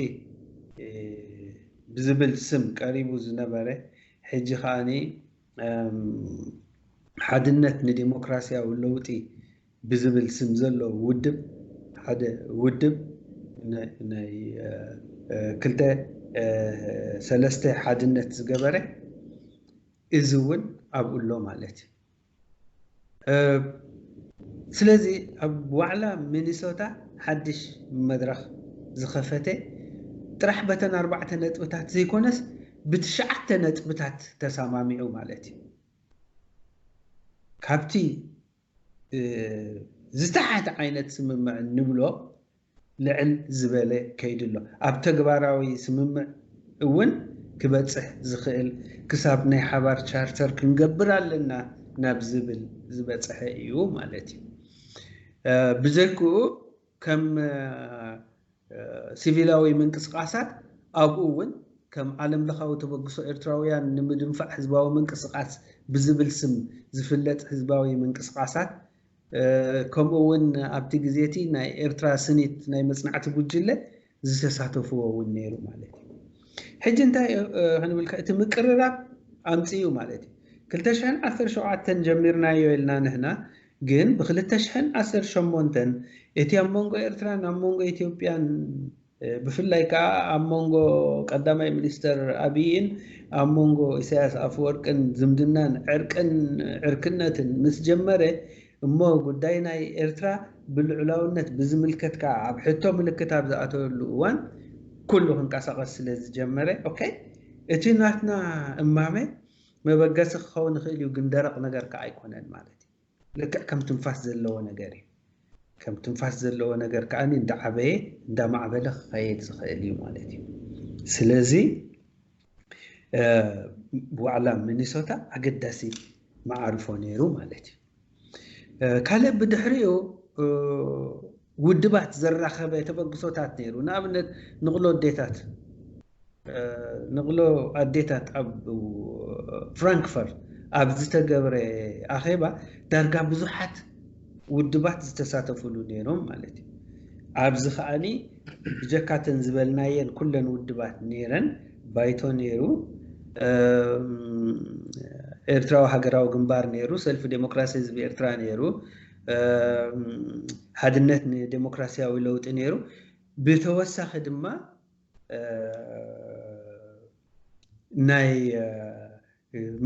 ብዝብል ስም ቀሪቡ ዝነበረ ሕጂ ከኣ ሓድነት ንደሞክራስያዊ ለውጢ ብዝብል ስም ዘሎ ውድብ ሓደ ውድብ ናይ ክልተ ሰለስተ ሓድነት ዝገበረ እዚ እውን ኣብኡ ኣሎ ማለት እዩ። ስለዚ ኣብ ዋዕላ ሚኒሶታ ሓድሽ መድረኽ ዝኸፈተ ጥራሕ በተን ኣርባዕተ ነጥብታት ዘይኮነስ ብትሽዓተ ነጥብታት ተሰማሚዑ ማለት እዩ። ካብቲ ዝተሓተ ዓይነት ስምምዕ እንብሎ ልዕል ዝበለ ከይዲ ኣሎ። ኣብ ተግባራዊ ስምምዕ እውን ክበፅሕ ዝኽእል ክሳብ ናይ ሓባር ቻርተር ክንገብር ኣለና ናብ ዝብል ዝበፅሐ እዩ ማለት እዩ። ብዘይክኡ ከም ሲቪላዊ ምንቅስቓሳት ኣብኡ እውን ከም ዓለም ለኻዊ ተበግሶ ኤርትራውያን ንምድንፋዕ ህዝባዊ ምንቅስቓስ ብዝብል ስም ዝፍለጥ ህዝባዊ ምንቅስቓሳት ከምኡ እውን ኣብቲ ግዜ እቲ ናይ ኤርትራ ስኒት ናይ መጽናዕቲ ጉጅለ ዝተሳተፍዎ ውን ነይሩ ማለት እዩ። ሕጂ እንታይ ክንብልካ እቲ ምቅርራብ ኣምጺኡ ማለት እዩ። ክልተ ሽሕን ዓሰርተ ሸውዓተን ጀሚርናዮ ኢልና ንሕና ግን ብክልተ ሽሕን ዓሰርተ ሸሞንተን እቲ ኣብ መንጎ ኤርትራን ኣብ መንጎ ኢትዮጵያን ብፍላይ ከዓ ኣብ መንጎ ቀዳማይ ሚኒስተር ኣብይን ኣብ መንጎ ኢሳያስ ኣፈወርቅን ዝምድናን ዕርቅን ዕርክነትን ምስ ጀመረ እሞ ጉዳይ ናይ ኤርትራ ብልዑላውነት ብዝምልከት ከኣ ኣብ ሕቶ ምልክት ኣብ ዝኣተወሉ እዋን ኩሉ ክንቀሳቐስ ስለ ዝጀመረ ኦከይ እቲ ናትና እማመ መበገሲ ክኸውን ይኽእል እዩ ግን ደረቕ ነገር ከኣ ኣይኮነን ማለት እዩ። ልክዕ ከም ትንፋስ ዘለዎ ነገር እዩ። ከም ትንፋስ ዘለዎ ነገር ከኣ እንዳዓበየ እንዳማዕበለ ክኸየድ ዝኽእል እዩ ማለት እዩ። ስለዚ። ዋዕላ ሚኒሶታ ኣገዳሲ መዓርፎ ነይሩ ማለት እዩ ካልእ ብድሕሪኡ ውድባት ዘራኸበ ተበግሶታት ነይሩ ንኣብነት ንቕሎ ኣዴታት ንቕሎ ኣዴታት ኣብ ፍራንክፈርት ኣብ ዝተገብረ ኣኼባ ዳርጋ ብዙሓት ውድባት ዝተሳተፍሉ ነይሮም ማለት እዩ። ኣብዚ ከኣ ብጀካ እተን ዝበልናየን ኩለን ውድባት ነይረን፣ ባይቶ ነይሩ፣ ኤርትራዊ ሃገራዊ ግንባር ነይሩ፣ ሰልፊ ደሞክራሲ ህዝቢ ኤርትራ ነይሩ፣ ሓድነት ንደሞክራሲያዊ ለውጢ ነይሩ፣ ብተወሳኺ ድማ ናይ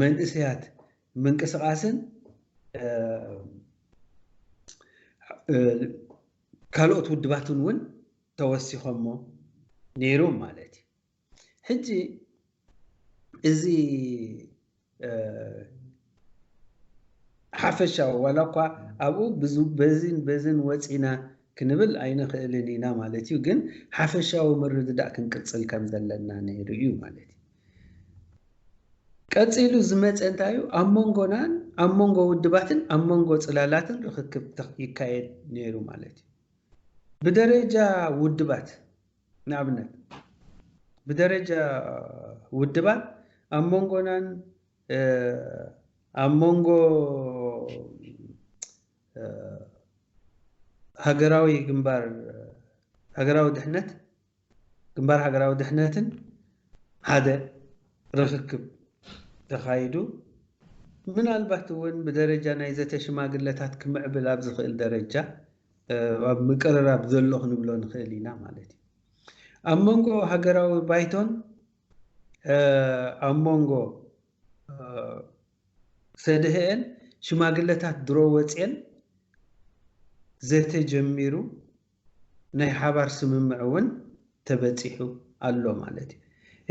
መንእሰያት ምንቅስቓስን ካልኦት ውድባትን እውን ተወሲኾሞ ነይሮም ማለት እዩ። ሕጂ እዚ ሓፈሻዊ ዋላ እኳ ኣብኡ በዝን በዝን ወፂና ክንብል ኣይንኽእልን ኢና ማለት እዩ፣ ግን ሓፈሻዊ ምርድዳእ ክንቅፅል ከም ዘለና ነይሩ እዩ ማለት እዩ። ቀጺሉ ዝመጸ እንታይ'ዩ? ኣብ መንጎናን ኣብ መንጎ ውድባትን ኣብ መንጎ ጽላላትን ርኽክብ ይካየድ ነይሩ ማለት'ዩ። ብደረጃ ውድባት ንኣብነት ብደረጃ ውድባት ኣብ መንጎናን ኣብ መንጎ ሃገራዊ ግንባር ሃገራዊ ድሕነት ግንባር ሃገራዊ ድሕነትን ሓደ ርኽክብ ተኻይዱ። ምናልባት እውን ብደረጃ ናይ ዘተ ሽማግለታት ክምዕብል ኣብ ዝኽእል ደረጃ ኣብ ምቅርራብ ዘሎ ክንብሎ ንኽእል ኢና ማለት እዩ። ኣብ መንጎ ሃገራዊ ባይቶን ኣብ መንጎ ሰድህኤን ሽማግለታት ድሮ ወፅየን ዘተ ጀሚሩ። ናይ ሓባር ስምምዕ እውን ተበጺሑ ኣሎ ማለት እዩ።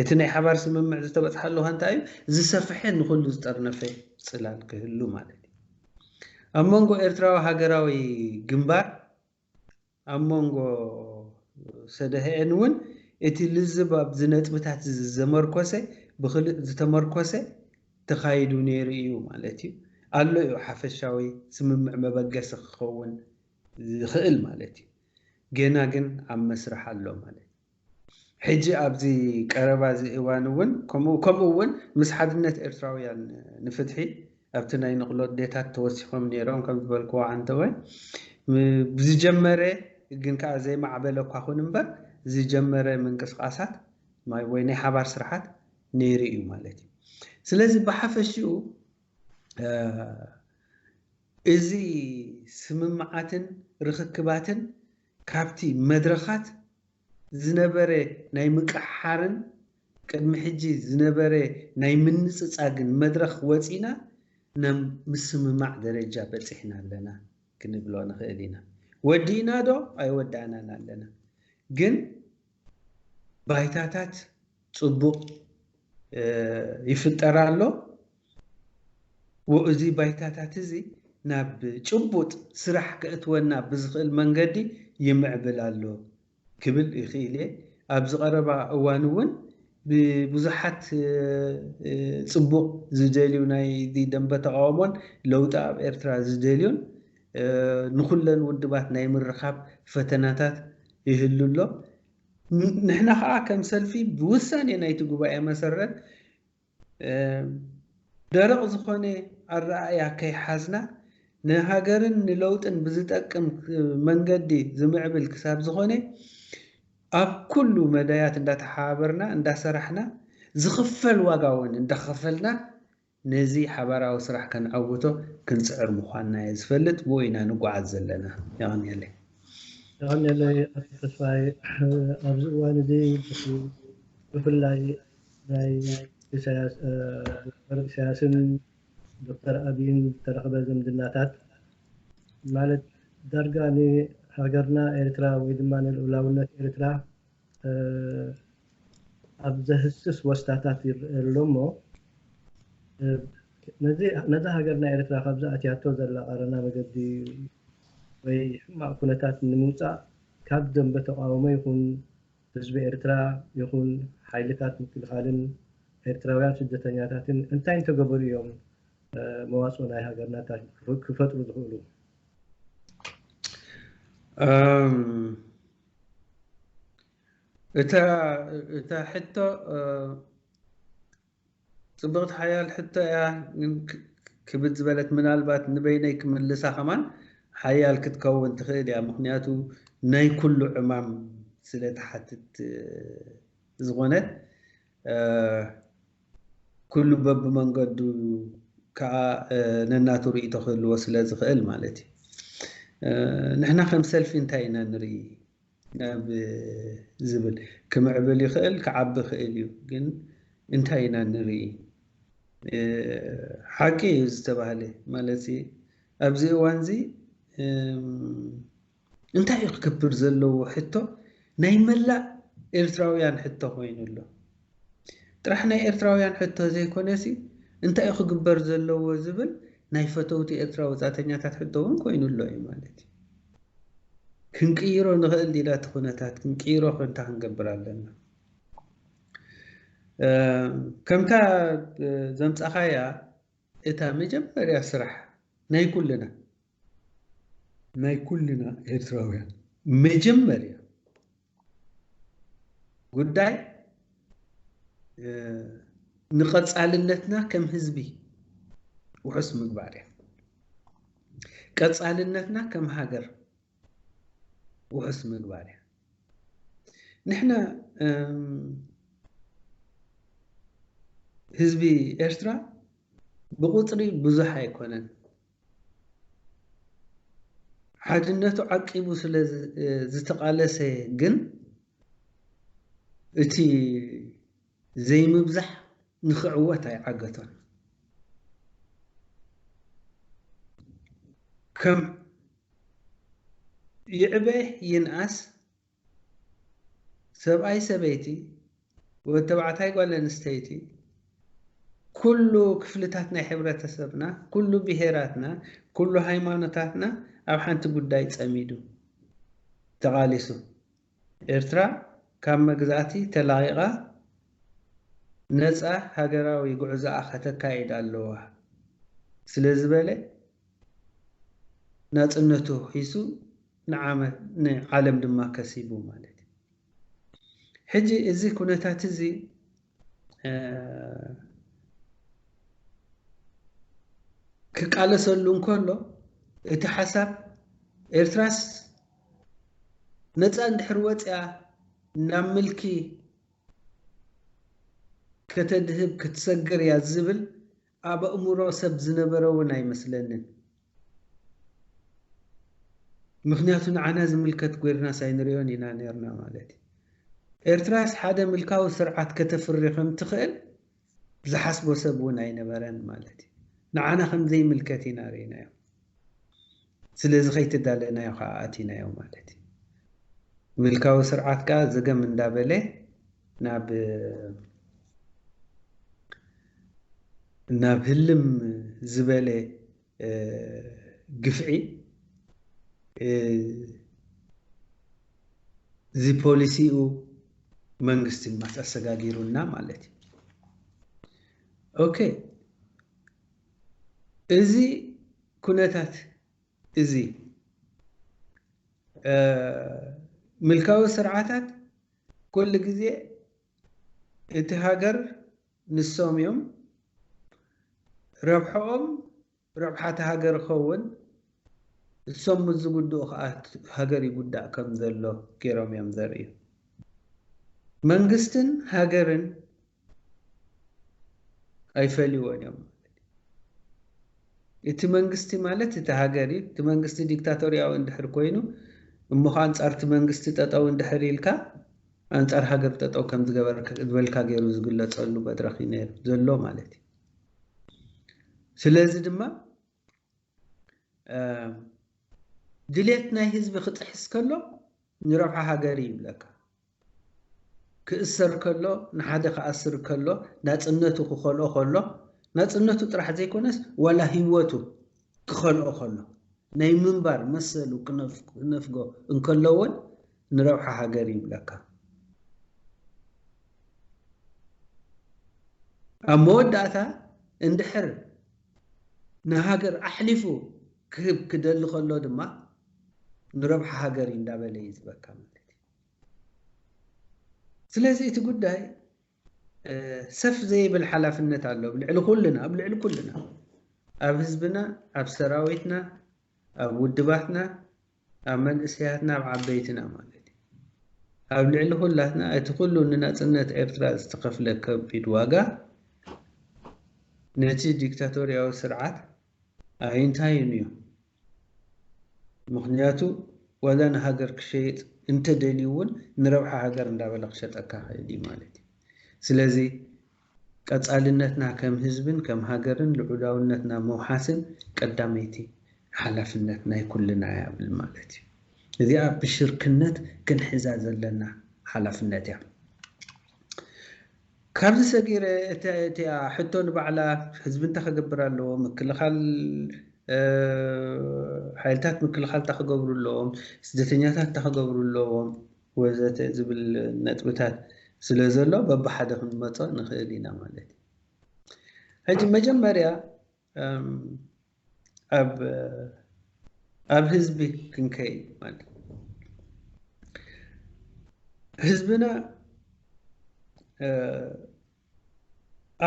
እቲ ናይ ሓባር ስምምዕ ዝተበጽሓሉ ከ እንታይ እዩ? ዝሰፍሐ ንኹሉ ዝጠርነፈ ጽላል ክህሉ ማለት እዩ። ኣብ መንጎ ኤርትራዊ ሃገራዊ ግንባር ኣብ መንጎ ሰደህኤን እውን እቲ ልዝብ ኣብዚ ነጥብታት እዚ ዘመርኮሰ ብክልእ ዝተመርኮሰ ተኻይዱ ነይሩ እዩ ማለት እዩ። ኣሎ እዩ ሓፈሻዊ ስምምዕ መበገሲ ክኸውን ዝኽእል ማለት እዩ ጌና ግን ኣብ መስርሕ ኣሎ ማለት እዩ ሕጂ ኣብዚ ቀረባ እዚ እዋን እውን ከምኡ ከምኡ እውን ምስ ሓድነት ኤርትራውያን ንፍትሒ ኣብቲ ናይ ንቕሎ ኣዴታት ተወሲኾም ነይሮም ከም ዝበልክዎ ዓንተወ ብዝጀመረ ግን ከኣ ዘይማዕበለ እኳ ኩን እምበር ዝጀመረ ምንቅስቓሳት ወይ ናይ ሓባር ስርሓት ነይሩ እዩ ማለት እዩ ስለዚ ብሓፈሽኡ እዚ ስምምዓትን ርኽክባትን ካብቲ መድረኻት ዝነበረ ናይ ምቅሕሓርን ቅድሚ ሕጂ ዝነበረ ናይ ምንጽጻግን መድረኽ ወጺእና ናብ ምስምማዕ ደረጃ በጺሕና ኣለና ክንብሎ ንኽእል ኢና። ወዲእናዶ? ኣይወዳእናን ኣለና። ግን። ባይታታት ፅቡቕ ይፍጠር ኣሎ። እዚ ባይታታት እዚ ናብ ጭቡጥ ስራሕ ከእትወና ብዝኽእል መንገዲ ይምዕብል ኣሎ ክብል ይኽእል እየ። ኣብዚ ቀረባ እዋን እውን ብብዙሓት ፅቡቕ ዝደልዩ ናይ ደንበ ተቓውሞን ለውጢ ኣብ ኤርትራ ዝደልዩን ንኹለን ውድባት ናይ ምርኻብ ፈተናታት ይህሉ ኣሎ። ንሕና ከኣ ከም ሰልፊ ብውሳኔ ናይቲ ጉባኤ መሰረት ደረቕ ዝኾነ ኣረኣእያ ከይሓዝና ንሃገርን ንለውጥን ብዝጠቅም መንገዲ ዝምዕብል ክሳብ ዝኾነ ኣብ ኩሉ መዳያት እንዳተሓባበርና እንዳሰራሕና ዝኽፈል ዋጋ እውን እንዳኸፈልና ነዚ ሓባራዊ ስራሕ ከነዐውቶ ክንጽዕር ምዃንና'የ ዝፈልጥ፣ ብኡ ኢና ንጓዓዝ ዘለና። የቐንየለይ። የቐንየለይ ኣቶ ተስፋይ፣ ኣብዚ እዋን እዚ ብፍላይ ናይ ኢሳያስ ዶክተር ኢሳያስን ዶክተር ኣቢይን ዝተረኽበ ዝምድናታት ማለት ዳርጋ ንሃገርና ኤርትራ ወይ ድማ ንልኡላውነት ኤርትራ ኣብ ዘህስስ ወስታታት ይረኣ ኣሎ እሞ ነዛ ሃገርና ኤርትራ ካብዛ ኣትያቶ ዘላ ቀረና መገዲ ወይ ሕማቅ ኩነታት ንምውጻእ ካብ ደምበ ተቃውሞ ይኹን ህዝቢ ኤርትራ ይኹን ሓይልታት ምክልኻልን ኤርትራውያን ስደተኛታትን እንታይ እንተገበሩ እዮም መዋጽኦ ናይ ሃገርና ክፈጥሩ ዝኽእሉ? እታ ሕቶ ፅብቕቲ ሓያል ሕቶ እያ ግን ክብድ ዝበለት ምናልባት ንበይነይ ክምልሳ ከማን ሓያል ክትከውን ትኽእል እያ ምክንያቱ ናይ ኩሉ ዕማም ስለ ትሓትት ዝኾነት ኩሉ በብመንገዱ ከኣ ነናቱ ርእይቶ ክህልዎ ስለ ዝኽእል ማለት እዩ። ንሕና ከም ሰልፊ እንታይ ኢና ንርኢ ናብ ዝብል ክምዕብል ይኽእል ክዓቢ ይኽእል እዩ ግን እንታይ ኢና ንርኢ ሓቂ እዩ ዝተባህለ ማለት ኣብዚ እዋንዚ እንታይ እዩ ክገብር ዘለዎ ሕቶ ናይ መላእ ኤርትራውያን ሕቶ ኮይኑ ኣሎ። ጥራሕ ናይ ኤርትራውያን ሕቶ ዘይኮነሲ እንታይ እዩ ክግበር ዘለዎ ዝብል ናይ ፈተውቲ ኤርትራ ወጻእተኛታት ሕቶ እውን ኮይኑ ኣሎ እዩ ማለት እዩ። ክንቅይሮ ንኽእል ዲና እቲ ኩነታት ክንቅይሮ ከንታ ክንገብር ኣለና። ከምታ ዘምጻኻያ እታ መጀመርያ ስራሕ ናይ ኩልና ናይ ኩልና ኤርትራውያን መጀመርያ ጉዳይ ንቐጻልነትና ከም ህዝቢ ውሑስ ምግባር እያ። ቀጻልነትና ከም ሃገር ውሑስ ምግባር እያ። ንሕና ህዝቢ ኤርትራ ብቑጽሪ ብዙሕ ኣይኮነን። ሓድነቱ ዓቂቡ ስለ ዝተቓለሰ ግን እቲ ዘይምብዛሕ ንኽዕወት ኣይዓገቶን። ከም ይዕበ ይንኣስ ሰብኣይ ሰበይቲ፣ ወድ ተባዕታይ ጓል ኣንስተይቲ፣ ኩሉ ክፍልታት ናይ ሕብረተሰብና፣ ኩሉ ብሄራትና፣ ኩሉ ሃይማኖታትና ኣብ ሓንቲ ጉዳይ ጸሚዱ ተቓሊሱ። ኤርትራ ካብ መግዛእቲ ተላቒቓ ነጻ ሃገራዊ ጉዕዞኣ ከተካይድ ኣለዋ ስለ ዝበለ ናጽነቱ ሒሱ ንዓመት ንዓለም ድማ ከሲቡ ማለት እዩ። ሕጂ እዚ ኩነታት እዚ ክቃለሰሉ እንከሎ እቲ ሓሳብ ኤርትራስ ነፃ እንድሕር ወፅያ ናብ ምልኪ ከተድህብ ክትሰግር እያ ዝብል ኣብ ኣእምሮ ሰብ ዝነበረ ውን ኣይመስለንን ምኽንያቱ ንዓና ዝምልከት ጎይርናስ ኣይንሪኦን ኢና ኔርና ማለት እዩ። ኤርትራስ ሓደ ምልካዊ ስርዓት ከተፍሪ ከም ትኽእል ዝሓስቦ ሰብ ውን ኣይነበረን ማለት እዩ። ንዓና ከም ዘይምልከት ኢና ሪኢናዮ። ስለዚ ከይተዳለናዮ ከኣ ኣቲናዮ ማለት እዩ። ምልካዊ ስርዓት ከኣ ዘገም እንዳበለ ናብ ናብ ህልም ዝበለ ግፍዒ እዚ ፖሊሲኡ መንግስቲ ኣሰጋጊሩና ማለት እዩ። ኦኬ እዚ ኩነታት እዚ፣ ምልካዊ ስርዓታት ኩሉ ግዜ እቲ ሃገር ንሶም እዮም፣ ረብሐኦም ረብሓ እታ ሃገር ይኸውን፣ እሶም ምስ ዝጉድኡ ከኣ ሃገር ይጉዳእ ከም ዘሎ ገይሮም እዮም ዘርእዩ። መንግስትን ሃገርን ኣይፈልይዎን እዮም ማለት እዩ። እቲ መንግስቲ ማለት እቲ ሃገር እዩ። እቲ መንግስቲ ዲክታቶርያዊ እንድሕር ኮይኑ እሞ ኸኣ ኣንጻር እቲ መንግስቲ ጠጠው እንድሕር ኢልካ ኣንጻር ሃገር ጠጠው ከም ዝበልካ ገይሩ ዝግለጸሉ መድረኽ እዩ ነይሩ፣ ዘሎ ማለት እዩ። ስለዚ ድማ፣ ድሌት ናይ ህዝቢ ክጥሕስ ከሎ ንረብሓ ሃገር እዩ ይብለካ። ክእሰር ከሎ ንሓደ ክኣስር ከሎ ናጽነቱ ክኸልኦ ከሎ ናጽነቱ ጥራሕ ዘይኮነስ ዋላ ህይወቱ ክኸልኦ ከሎ ናይ ምንባር መሰሉ ክነፍጎ እንከሎ እውን ንረብሓ ሃገር ይብለካ። ኣብ መወዳእታ እንድሕር ንሃገር ኣሕሊፉ ክህብ ክደሊ ከሎ ድማ ንረብሓ ሃገር እዩ እንዳበለ እዩ ዝበካ ማለት እዩ። ስለዚ እቲ ጉዳይ ሰፍ ዘይብል ሓላፍነት ኣሎ ኣብ ልዕሊ ኩልና ኣብ ልዕሊ ኩልና ኣብ ህዝብና ኣብ ሰራዊትና ኣብ ውድባትና ኣብ መንእሰያትና ኣብ ዓበይትና ማለት እዩ ኣብ ልዕሊ ኩላትና እቲ ኩሉ ንናጽነት ኤርትራ ዝተኸፍለ ከቢድ ዋጋ ነቲ ዲክታቶርያዊ ስርዓት ኣይንታዩን እዩ ምኽንያቱ ዋላ ንሃገር ክሸይጥ እንተደልዩ እውን ንረብሓ ሃገር እንዳበለ ክሸጠካ ክእል እዩ ማለት እዩ ስለዚ ቀጻልነትና ከም ህዝብን ከም ሃገርን ልዑላውነትና ምውሓስን ቀዳመይቲ ሓላፍነት ናይ ኩልና እያ ብል ማለት እዩ። እዚኣ ብሽርክነት ክንሕዛ ዘለና ሓላፍነት እያ። ካብዚ ሰጊረ እቲኣ ሕቶ ንባዕላ ህዝቢ እንታይ ክገብር ኣለዎ፣ ምክልኻል ሓይልታት ምክልኻል እንታይ ክገብሩ ኣለዎም፣ ስደተኛታት እንታይ ክገብሩ ኣለዎም፣ ወዘተ ዝብል ነጥብታት ስለ ዘሎ በብሓደ ክንመጾ ንኽእል ኢና ማለት እዩ። ሕጂ መጀመርያ ኣብ ኣብ ህዝቢ ክንከይድ ማለት ህዝብና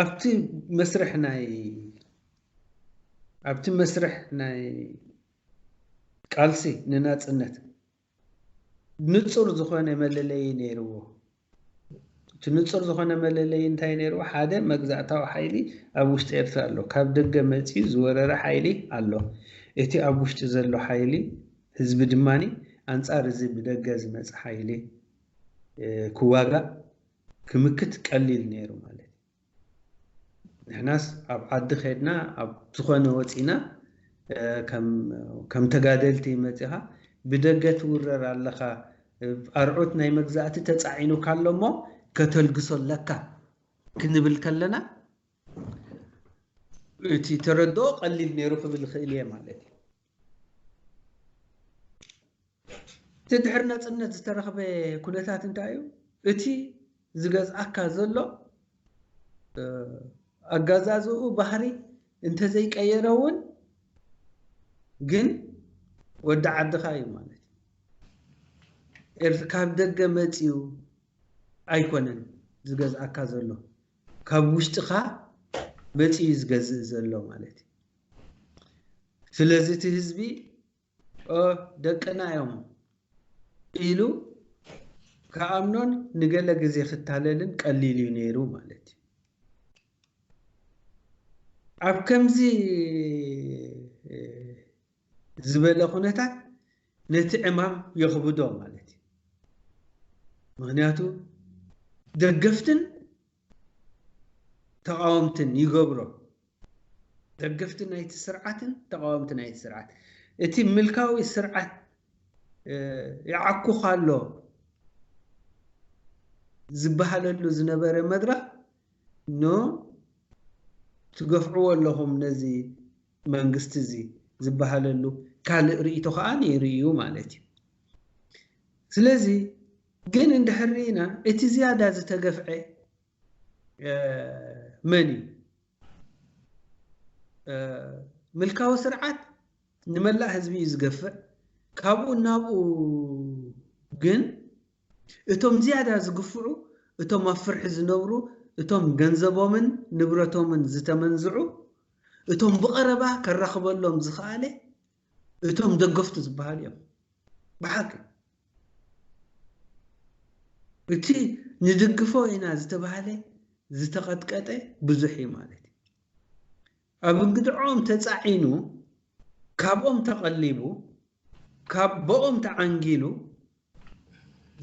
ኣብቲ መስርሕ ናይ ኣብቲ መስርሕ ናይ ቃልሲ ንናጽነት ንጹር ዝኾነ መለለዪ ነይርዎ። እቲ ንጹር ዝኾነ መለለዪ እንታይ እዩ ነይርዎ? ሓደ መግዛእታዊ ሓይሊ ኣብ ውሽጢ ኤርትራ ኣሎ። ካብ ደገ መጺኡ ዝወረረ ሓይሊ ኣሎ። እቲ ኣብ ውሽጢ ዘሎ ሓይሊ ህዝቢ ድማ ኣንጻር እዚ ብደገ ዝመጸ ሓይሊ ክዋጋእ፣ ክምክት ቀሊል ነይሩ ማለት እዩ። ንሕናስ ኣብ ዓዲ ከድና ኣብ ዝኾነ ወጺና ከም ተጋደልቲ መጺኻ ብደገ ትውረር ኣለኻ ኣርዑት ናይ መግዛእቲ ተጻዒኑካ ኣሎ እሞ ከተልግሶ ኣለካ ክንብል ከለና እቲ ተረድኦ ቀሊል ነይሩ ክብል ይኽእል እየ ማለት እዩ። እቲ ድሕሪ ነጽነት ዝተረኽበ ኩነታት እንታይ እዩ? እቲ ዝገዝኣካ ዘሎ ኣጋዛዝኡ ባህሪ እንተዘይቀየረ እውን ግን ወዲ ዓድኻ እዩ ማለት እዩ። ካብ ደገ መጺኡ ኣይኮነን ዝገዝኣካ ዘሎ ካብ ውሽጥኻ መጺኡ ዝገዝእ ዘሎ ማለት እዩ። ስለዚ እቲ ህዝቢ ኦ ደቅና እዮም ኢሉ ክኣምኖን ንገለ ግዜ ክታለልን ቀሊል እዩ ነይሩ ማለት እዩ። ኣብ ከምዚ ዝበለ ኩነታት ነቲ ዕማም የኽብዶ ማለት እዩ። ምክንያቱ ደገፍትን ተቓወምትን ይገብሮ። ደገፍቲ ናይቲ ስርዓትን ተቓወምቲ ናይቲ ስርዓት እቲ ምልካዊ ስርዓት ይዓኩኻ ኣሎ ዝበሃለሉ ዝነበረ መድረኽ ኖ ትገፍዕዎ ኣለኹም ነዚ መንግስቲ እዚ ዝበሃለሉ ካልእ ርእይቶ ከዓ ነይሩ እዩ ማለት እዩ። ስለዚ ግን እንድሕር ርኢና እቲ ዝያዳ ዝተገፍዐ መን እዩ? ምልካዊ ስርዓት ንመላእ ህዝቢ እዩ ዝገፍዕ። ካብኡ ናብኡ ግን እቶም ዝያዳ ዝግፍዑ እቶም ኣብ ፍርሒ ዝነብሩ እቶም ገንዘቦምን ንብረቶምን ዝተመንዝዑ እቶም ብቐረባ ከራኽበሎም ዝኸኣለ እቶም ደገፍቱ ዝበሃሉ እዮም ብሓቂ እቲ ንድግፎ ኢና ዝተባህለ ዝተቐጥቀጠ ብዙሕ እዩ ማለት እዩ ኣብ እንግድዖም ተፃዒኑ ካብኦም ተቐሊቡ ካብ ቦኦም ተዓንጊሉ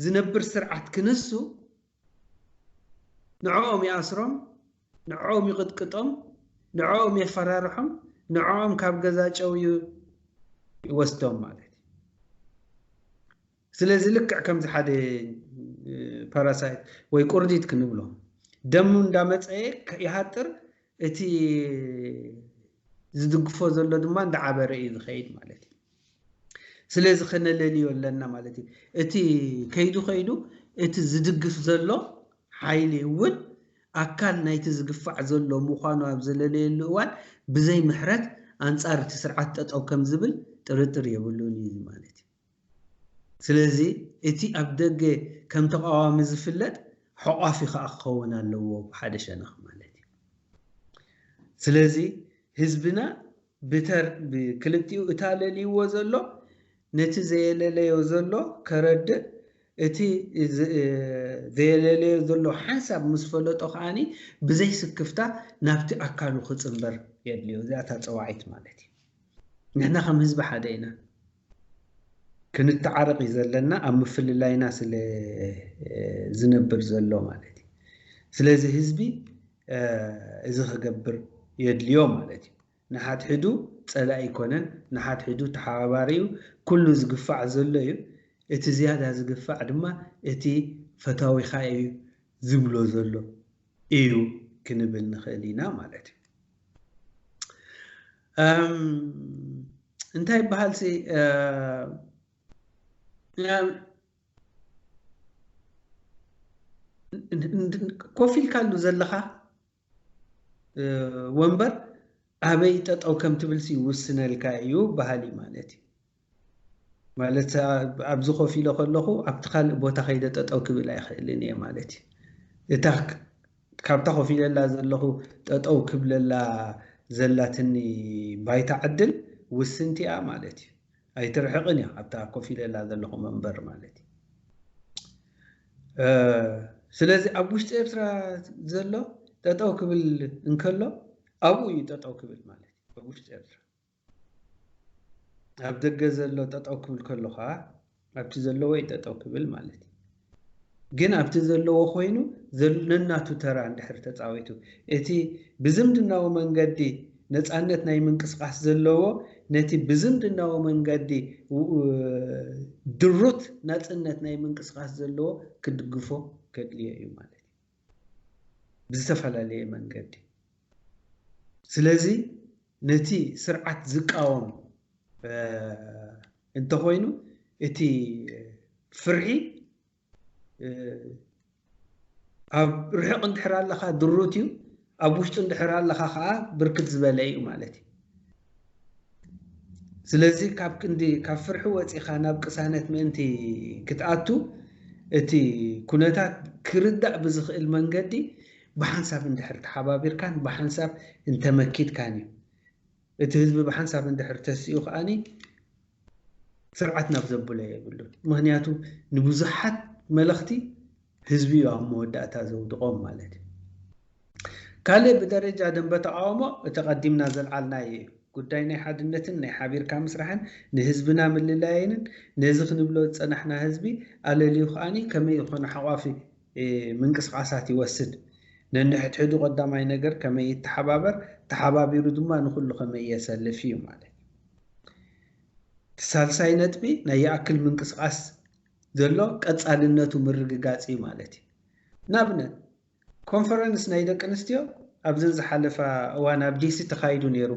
ዝነብር ስርዓት ክንሱ ንዕኦም ይኣስሮም፣ ንዕኦም ይቕጥቅጦም፣ ንዕኦም የፈራርሖም፣ ንዕኦም ካብ ገዛ ጨውዩ ይወስዶም ማለት እዩ። ስለዚ ልክዕ ከምዚ ሓደ ፓራሳይት ወይ ቁርዲት ክንብሎ ደሙ እንዳመፀየ ይሃጥር እቲ ዝድግፎ ዘሎ ድማ እንዳዓበረ እዩ ዝኸይድ ማለት እዩ። ስለዚ ከነለልዮ ኣለና ማለት እዩ። እቲ ከይዱ ከይዱ እቲ ዝድግፍ ዘሎ ሓይሊ እውን ኣካል ናይቲ ዝግፋዕ ዘሎ ምዃኑ ኣብ ዘለለየሉ እዋን ብዘይ ምሕረት ኣንጻር እቲ ስርዓት ጠጠው ከም ዝብል ጥርጥር የብሉን እዩ ማለት እዩ። ስለዚ እቲ ኣብ ደገ ከም ተቓዋሚ ዝፍለጥ ሐቋፊ ከኣ ክኸውን ኣለዎ ብሓደ ሸነኽ ማለት እዩ። ስለዚ ህዝብና ብተር ብክልቲኡ እቲ ኣለልይዎ ዘሎ ነቲ ዘየለለዮ ዘሎ ከረድእ እቲ ዘየለለዮ ዘሎ ሓንሳብ ምስ ፈለጦ ከኣ ብዘይ ስክፍታ ናብቲ ኣካሉ ክጽንበር የድልዮ። እዚኣ እታ ጸዋዒት ማለት እዩ። ንሕና ከም ህዝቢ ሓደ ኢና ክንታዓረቅ እዩ ዘለና ኣብ ምፍልላይና ስለ ዝነብር ዘሎ ማለት እዩ ስለዚ ህዝቢ እዚ ክገብር የድልዮ ማለት እዩ ንሓድሕዱ ጸላኢ ኣይኮነን ንሓድሕዱ ተሓባባሪ እዩ ኩሉ ዝግፋዕ ዘሎ እዩ እቲ ዝያዳ ዝግፋዕ ድማ እቲ ፈታዊኻ እዩ ዝብሎ ዘሎ እዩ ክንብል ንኽእል ኢና ማለት እዩ። እንታይ ይበሃል ሲ ኮፍ ኢልካሉ ዘለኻ ወንበር ኣበይ ጠጠው ከም ትብልሲ ይውስነልካ እዩ በሃሊ ማለት እዩ። ማለት ኣብዚ ኮፍ ኢለ ከለኹ ኣብቲ ካልእ ቦታ ከይደ ጠጠው ክብል ኣይኽእልን እየ ማለት እዩ። እታ ካብታ ኮፍ ኢለላ ዘለኹ ጠጠው ክብለላ ዘላትኒ ባይታ ዕድል ውስንቲ እያ ማለት እዩ። ኣይትርሕቕን እያ ኣብታ ኮፍ ኢለላ ዘለኹ መንበር ማለት እዩ። ስለዚ ኣብ ውሽጢ ኤርትራ ዘሎ ጠጠው ክብል እንከሎ ኣብኡ እዩ ጠጠው ክብል ማለት እዩ ኣብ ውሽጢ ኤርትራ ኣብ ደገ ዘሎ ጠጠው ክብል ከሎ ከኣ ኣብቲ ዘለዎ እዩ ጠጠው ክብል ማለት እዩ። ግን ኣብቲ ዘለዎ ኮይኑ ነናቱ ተራ እንድሕር ተጻዊቱ እቲ ብዝምድናዊ መንገዲ ነጻነት ናይ ምንቅስቃስ ዘለዎ ነቲ ብዝምድናዊ መንገዲ ድሩት ናጽነት ናይ ምንቅስቃስ ዘለዎ ክድግፎ ከድልዮ እዩ ማለት እዩ። ብዝተፈላለየ መንገዲ ስለዚ ነቲ ስርዓት ዝቃወም እንተኾይኑ እቲ ፍርሒ ኣብ ርሑቕ እንድሕር ኣለኻ ድሩት እዩ ኣብ ውሽጡ እንድሕር ኣለኻ ከኣ ብርክት ዝበለ እዩ ማለት እዩ። ስለዚ ካብ ክንዲ ካብ ፍርሒ ወጺኻ ናብ ቅሳነት ምእንቲ ክትኣቱ እቲ ኩነታት ክርዳእ ብዝኽእል መንገዲ ብሓንሳብ እንድሕር ተሓባቢርካን ብሓንሳብ እንተመኪትካን እዩ እቲ ህዝቢ ብሓንሳብ እንድሕር ተሲኡ ከኣ ስርዓት ናብ ዘብሎ የብሉን። ምኽንያቱ ንብዙሓት መለኽቲ ህዝቢ እዩ ኣብ መወዳእታ ዘውድቖም ማለት እዩ። ካልእ ብደረጃ ደንበ ተቓውሞ እቲ ቀዲምና ዘልዓልናዮ እዩ። ጉዳይ ናይ ሓድነትን ናይ ሓቢርካ ምስራሕን ንህዝብና ምልላይንን ነዚ ክንብሎ ዝጸናሕና ህዝቢ ኣለልዩ ከኣ ከመይ ይኾነ ሓቋፊ ምንቅስቓሳት ይወስድ። ነንሕድሕዱ ቀዳማይ ነገር ከመይ ይተሓባበር፣ ተሓባቢሩ ድማ ንኹሉ ከመይ የሰልፍ እዩ ማለት እዩ። እቲ ሳልሳይ ነጥቢ ናይ ይኣክል ምንቅስቓስ ዘሎ ቀጻልነቱ ምርግጋጽ እዩ ማለት እዩ። ንኣብነት ኮንፈረንስ ናይ ደቂ ኣንስትዮ ኣብዘን ዝሓለፋ እዋን ኣብ ዲሲ ተኻይዱ ነይሩ።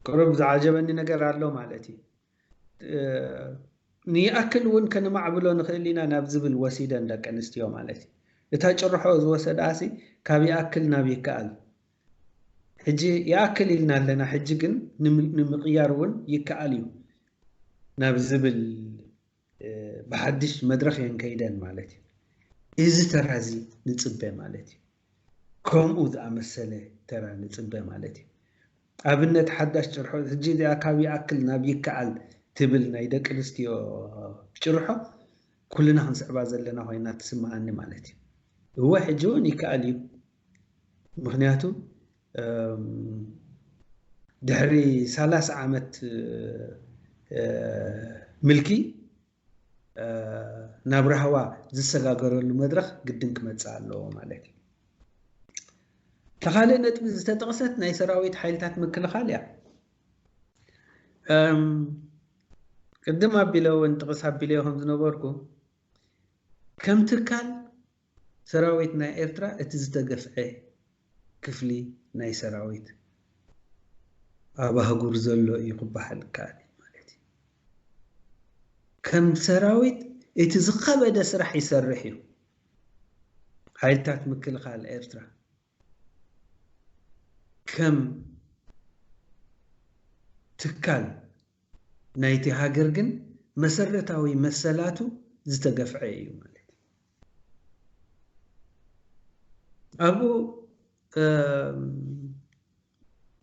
ቅሩብ ዝዓጀበኒ ነገር ኣሎ ማለት እዩ። ንይኣክል እውን ከነማዕብሎ ንኽእል ኢና ናብ ዝብል ወሲደን ደቂ ኣንስትዮ ማለት እዩ። እታ ጭርሖ ዝወሰድኣሲ ካብ ይኣክል ናብ ይከኣል ሕጂ ይኣክል ኢልና ኣለና ሕጂ ግን ንምቕያር እውን ይከኣል እዩ ናብ ዝብል ብሓድሽ መድረኽ እየን ከይደን ማለት እዩ። እዚ ተራ እዚ ንጽበ ማለት እዩ። ከምኡ ዝኣመሰለ ተራ ንጽበ ማለት እዩ። ኣብነት ሓዳሽ ጭርሖ ሕጂ እዚኣ ካብ ይኣክል ናብ ይከኣል ትብል ናይ ደቂ ኣንስትዮ ጭርሖ ኩልና ክንስዕባ ዘለና ኮይና ትስምዓኒ ማለት እዩ። እወ ሕጂ እውን ይከኣል እዩ ምኽንያቱ ድሕሪ ሰላሳ ዓመት ምልኪ ናብ ራህዋ ዝሰጋገረሉ መድረኽ ግድን ክመፅእ ኣለዎ ማለት እዩ። እታ ካልእ ነጥቢ ዝተጠቕሰት ናይ ሰራዊት ሓይልታት ምክልኻል እያ። ቅድም ኣቢለ እውን ጥቕስ ኣቢለዮ ከም ዝነበርኩ ከም ትካል ሰራዊት ናይ ኤርትራ እቲ ዝተገፍዔ ክፍሊ ናይ ሰራዊት ኣብ ኣህጉር ዘሎ እዩ ክበሃል ይከኣል እዩ ማለት እዩ። ከም ሰራዊት እቲ ዝኸበደ ስራሕ ይሰርሕ እዩ ሓይልታት ምክልኻል ኤርትራ። ከም ትካል ናይቲ ሃገር ግን መሰረታዊ መሰላቱ ዝተገፍዐ እዩ ማለት እዩ። ኣብኡ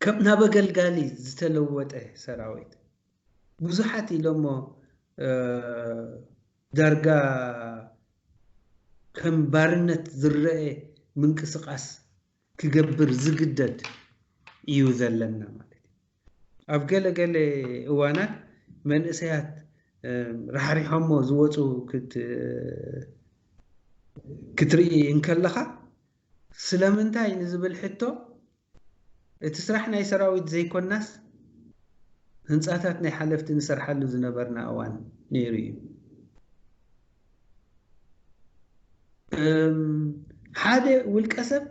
ከም ናብ ኣገልጋሊ ዝተለወጠ ሰራዊት፣ ብዙሓት ኢሎሞ ዳርጋ ከም ባርነት ዝረኤ ምንቅስቃስ ክገብር ዝግደድ ኢዩ ዘለና ማለት ኢዩ። ኣብ ገለ ገለ እዋናት መንእሰያት ራሕሪሖሞ ዝወጹ ክትርኢ እንከለኻ ስለምንታይ ንዝብል ሕቶ እቲ ስራሕ ናይ ሰራዊት ዘይኮናስ ህንጻታት ናይ ሓለፍቲ ንሰርሓሉ ዝነበርና እዋን ነይሩ እዩ። ሓደ ውልቀሰብ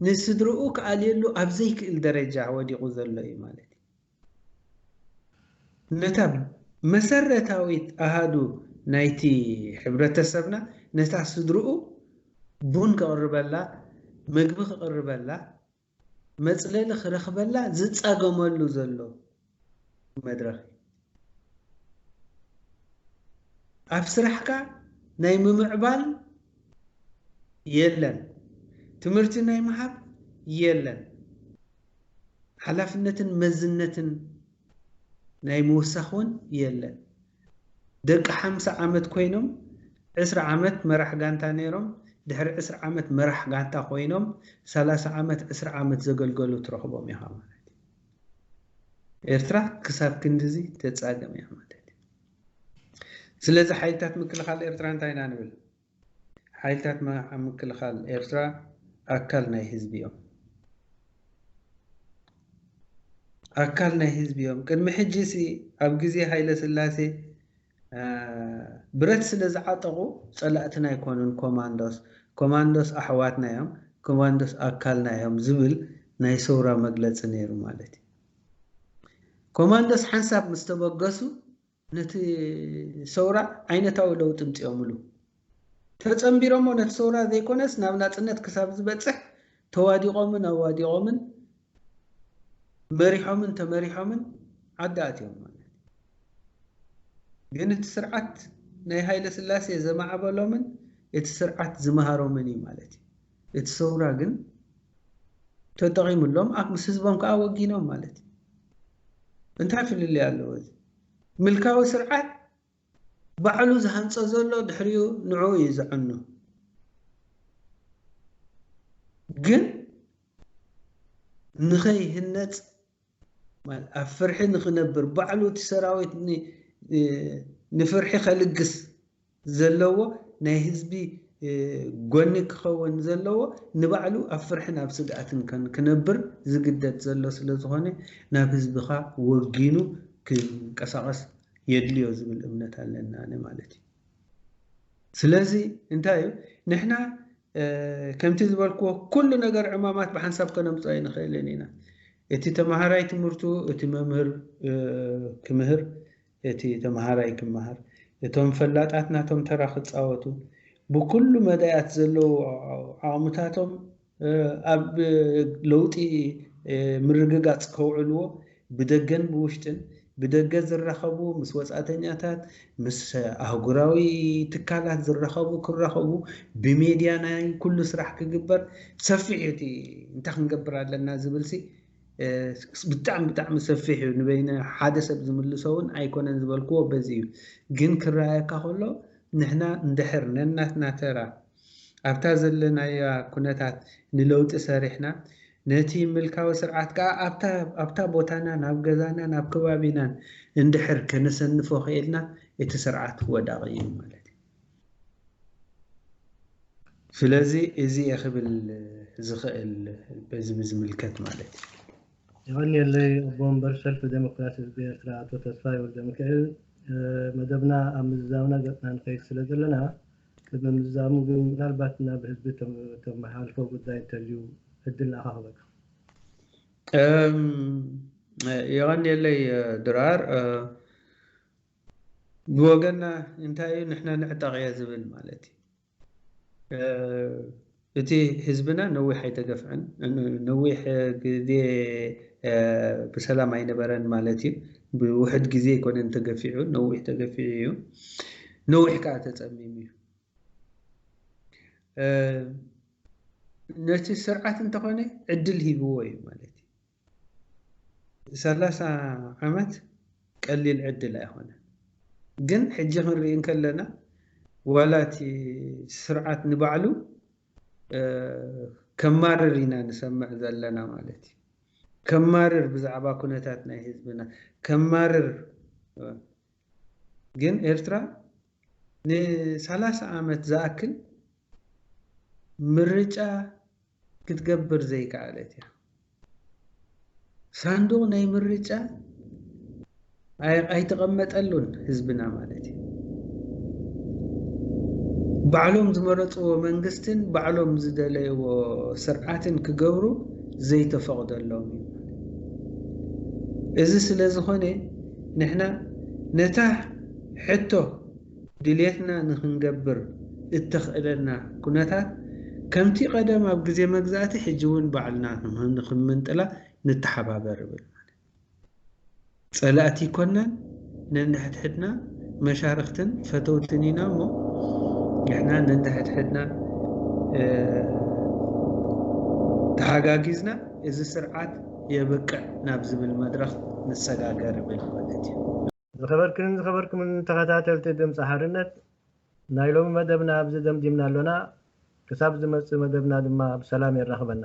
ንስድርኡ ክኣልየሉ ኣብ ዘይክእል ደረጃ ወዲቑ ዘሎ እዩ ማለት እዩ። ነታ መሰረታዊት ኣሃዱ ናይቲ ሕብረተሰብና፣ ነታ ስድርኡ ቡን ክቕርበላ፣ መግቢ ክቕርበላ፣ መጽለሊ ክረኽበላ ዝጻገመሉ ዘሎ መድረኽ እዩ። ኣብ ስራሕካ ናይ ምምዕባል የለን፣ ትምህርቲ ናይ ምሃብ የለን። ሓላፍነትን መዝነትን ናይ ምውሳኽ ውን የለን። ደቂ ሓምሳ ዓመት ኮይኖም ዕስራ ዓመት መራሕ ጋንታ ነይሮም ድሕሪ ዕስራ ዓመት መራሕ ጋንታ ኮይኖም ሰላሳ ዓመት ዕስራ ዓመት ዘገልገሉ ትረኽቦም ኢኻ ማለት እዩ። ኤርትራ ክሳብ ክንድዚ ተጻገም እያ ማለት እዩ። ስለዚ ሓይልታት ምክልኻል ኤርትራ እንታይ ኢና ንብል? ሓይልታት ምክልኻል ኤርትራ ኣካል ናይ ህዝቢ እዮም። ኣካል ናይ ህዝቢ እዮም። ቅድሚ ሕጂሲ ኣብ ግዜ ሃይለስላሴ ብረት ስለ ዝዓጠቑ ጸላእትና ኣይኮኑን ኮማንዶስ፣ ኮማንዶስ ኣሕዋትና እዮም፣ ኮማንዶስ ኣካልና እዮም ዝብል ናይ ሰውራ መግለጺ ነይሩ ማለት እዩ። ኮማንዶስ ሓንሳብ ምስ ተበገሱ ነቲ ሰውራ ዓይነታዊ ለውጢ እምጺኦምሉ። ተጸንቢሮሞ ነቲ ሰውራ ዘይኮነስ ናብ ናጽነት ክሳብ ዝበጽሕ ተዋዲቖምን ኣዋዲቖምን መሪሖምን ተመሪሖምን ዓዲ ኣትዮም ማለት እዩ። ግን እቲ ስርዓት ናይ ሃይለስላሴ ዘማዕበሎምን እቲ ስርዓት ዝመሃሮምን እዩ ማለት እዩ። እቲ ሰውራ ግን ተጠቒምሎም ምስ ህዝቦም ከኣ ወጊኖም ማለት እዩ። እንታይ ፍልልይ ኣለዎ እዚ ምልካዊ ስርዓት ባዕሉ ዝሃንጾ ዘሎ ድሕሪኡ ንዕኡ እዩ ዘዕኑ ግን ንኸይህነጽ ኣብ ፍርሒ ንክነብር ባዕሉ እቲ ሰራዊት ንፍርሒ ከልግስ ዘለዎ ናይ ህዝቢ ጎኒ ክኸውን ዘለዎ ንባዕሉ ኣብ ፍርሕን ኣብ ስግኣትን ክነብር ዝግደድ ዘሎ ስለዝኾነ ናብ ህዝብኻ ወጊኑ ክንቀሳቐስ የድልዮ ዝብል እምነት ኣለና ኣነ ማለት እዩ። ስለዚ እንታይ እዩ ንሕና ከምቲ ዝበልክዎ ኩሉ ነገር ዕማማት ብሓንሳብ ከነምፅኦ ኣይንኽእልን ኢና። እቲ ተምሃራይ ትምህርቱ እቲ መምህር ክምህር እቲ ተምሃራይ ክመሃር እቶም ፈላጣት ናቶም ተራ ክፃወቱ ብኩሉ መዳያት ዘለዉ ዓቕምታቶም ኣብ ለውጢ ምርግጋፅ ከውዕልዎ ብደገን ብውሽጥን፣ ብደገ ዝራኸቡ ምስ ወጻእተኛታት፣ ምስ ኣህጉራዊ ትካላት ዝራኸቡ ክራኸቡ፣ ብሜድያ ናይ ኩሉ ስራሕ ክግበር ሰፊሕ እዩ እቲ እንታይ ክንገብር ኣለና ዝብልሲ ብጣዕሚ ብጣዕሚ ሰፊሕ እዩ ንበይነ ሓደ ሰብ ዝምልሶ እውን ኣይኮነን ዝበልክዎ በዚ እዩ ግን ክረኣየካ ከሎ ንሕና እንድሕር ነናትና ተራ ኣብታ ዘለናያ ኩነታት ንለውጢ ሰሪሕና፣ ነቲ ምልካዊ ስርዓት ከኣ ኣብታ ኣብታ ቦታና ናብ ገዛናን ኣብ ከባቢናን እንድሕር ከነሰንፎ ክኢልና እቲ ስርዓት ወዳቒ እዩ ማለት እዩ። ስለዚ እዚ እየ ክብል ዝኽእል በዚ ብዝምልከት ማለት እዩ። የቐንየለይ ኣቦ ወንበር ሰልፊ ደሞክራሲ ህዝቢ ኤርትራ ኣቶ ተስፋይ ወልደሚካኤል። መደብና ኣብ ምዝዛምና ገጽና ንኸይድ ስለ ዘለና፣ ቅድሚ ምዝዛሙ ግን ምናልባት ናብ ህዝቢ ተመሓላልፎ ጉዳይ እንተልዩ ዕድል ንኣኻ ክህበካ። የቐንየለይ ድራር። ብወገንና እንታይ እዩ ንሕና ንዕጠቕ'የ ዝብል ማለት እዩ። እቲ ህዝብና ነዊሕ ኣይተገፍዐን ነዊሕ ግዜ ብሰላም ኣይነበረን ማለት እዩ ብውሕድ ግዜ ኣይኮነን ተገፊዑ ነዊሕ ተገፊዑ እዩ ነዊሕ ከኣ ተጸሚሙ እዩ ነቲ ስርዓት እንተኾነ ዕድል ሂብዎ እዩ ማለት እዩ ሰላሳ ዓመት ቀሊል ዕድል ኣይኮነን ግን ሕጂ ክንርኢ እንከለና ዋላ እቲ ስርዓት ንባዕሉ ከማርር ኢና ንሰምዕ ዘለና ማለት እዩ ከማርር ብዛዕባ ኩነታት ናይ ህዝብና ከማርር ግን ኤርትራ ንሰላሳ ዓመት ዝኣክል ምርጫ ክትገብር ዘይከኣለት እያ። ሳንዱቕ ናይ ምርጫ ኣይተቐመጠሉን ህዝብና ማለት እዩ። ባዕሎም ዝመረፅዎ መንግስትን ባዕሎም ዝደለይዎ ስርዓትን ክገብሩ ዘይተፈቕደሎም እዩ። እዚ ስለዝኾነ ንሕና ነታ ሕቶ ድሌትና ንኽንገብር እተኽእለና ኩነታት ከምቲ ቀደም ኣብ ግዜ መግዛእቲ ሕጂ እውን ባዕልና ንኽንምንጥላ ንተሓባበር እብል ማለት ጸላእቲ ኣይኮናን ነንሕድሕድና መሻርኽትን ፈተውትን ኢና እሞ ንሕና ነንሕድሕድና ተሓጋጊዝና እዚ ስርዓት የብቅዕ ናብ ዝብል መድረኽ ንሰጋገር እብል ማለት እዩ። ዝኸበርክንን ዝኸበርኩምን ተኸታተልቲ ድምጺ ሓርነት ናይ ሎሚ መደብና ኣብዚ ደምዲምና ኣሎና። ክሳብ ዝመጽእ መደብና ድማ ብሰላም የራኽበና።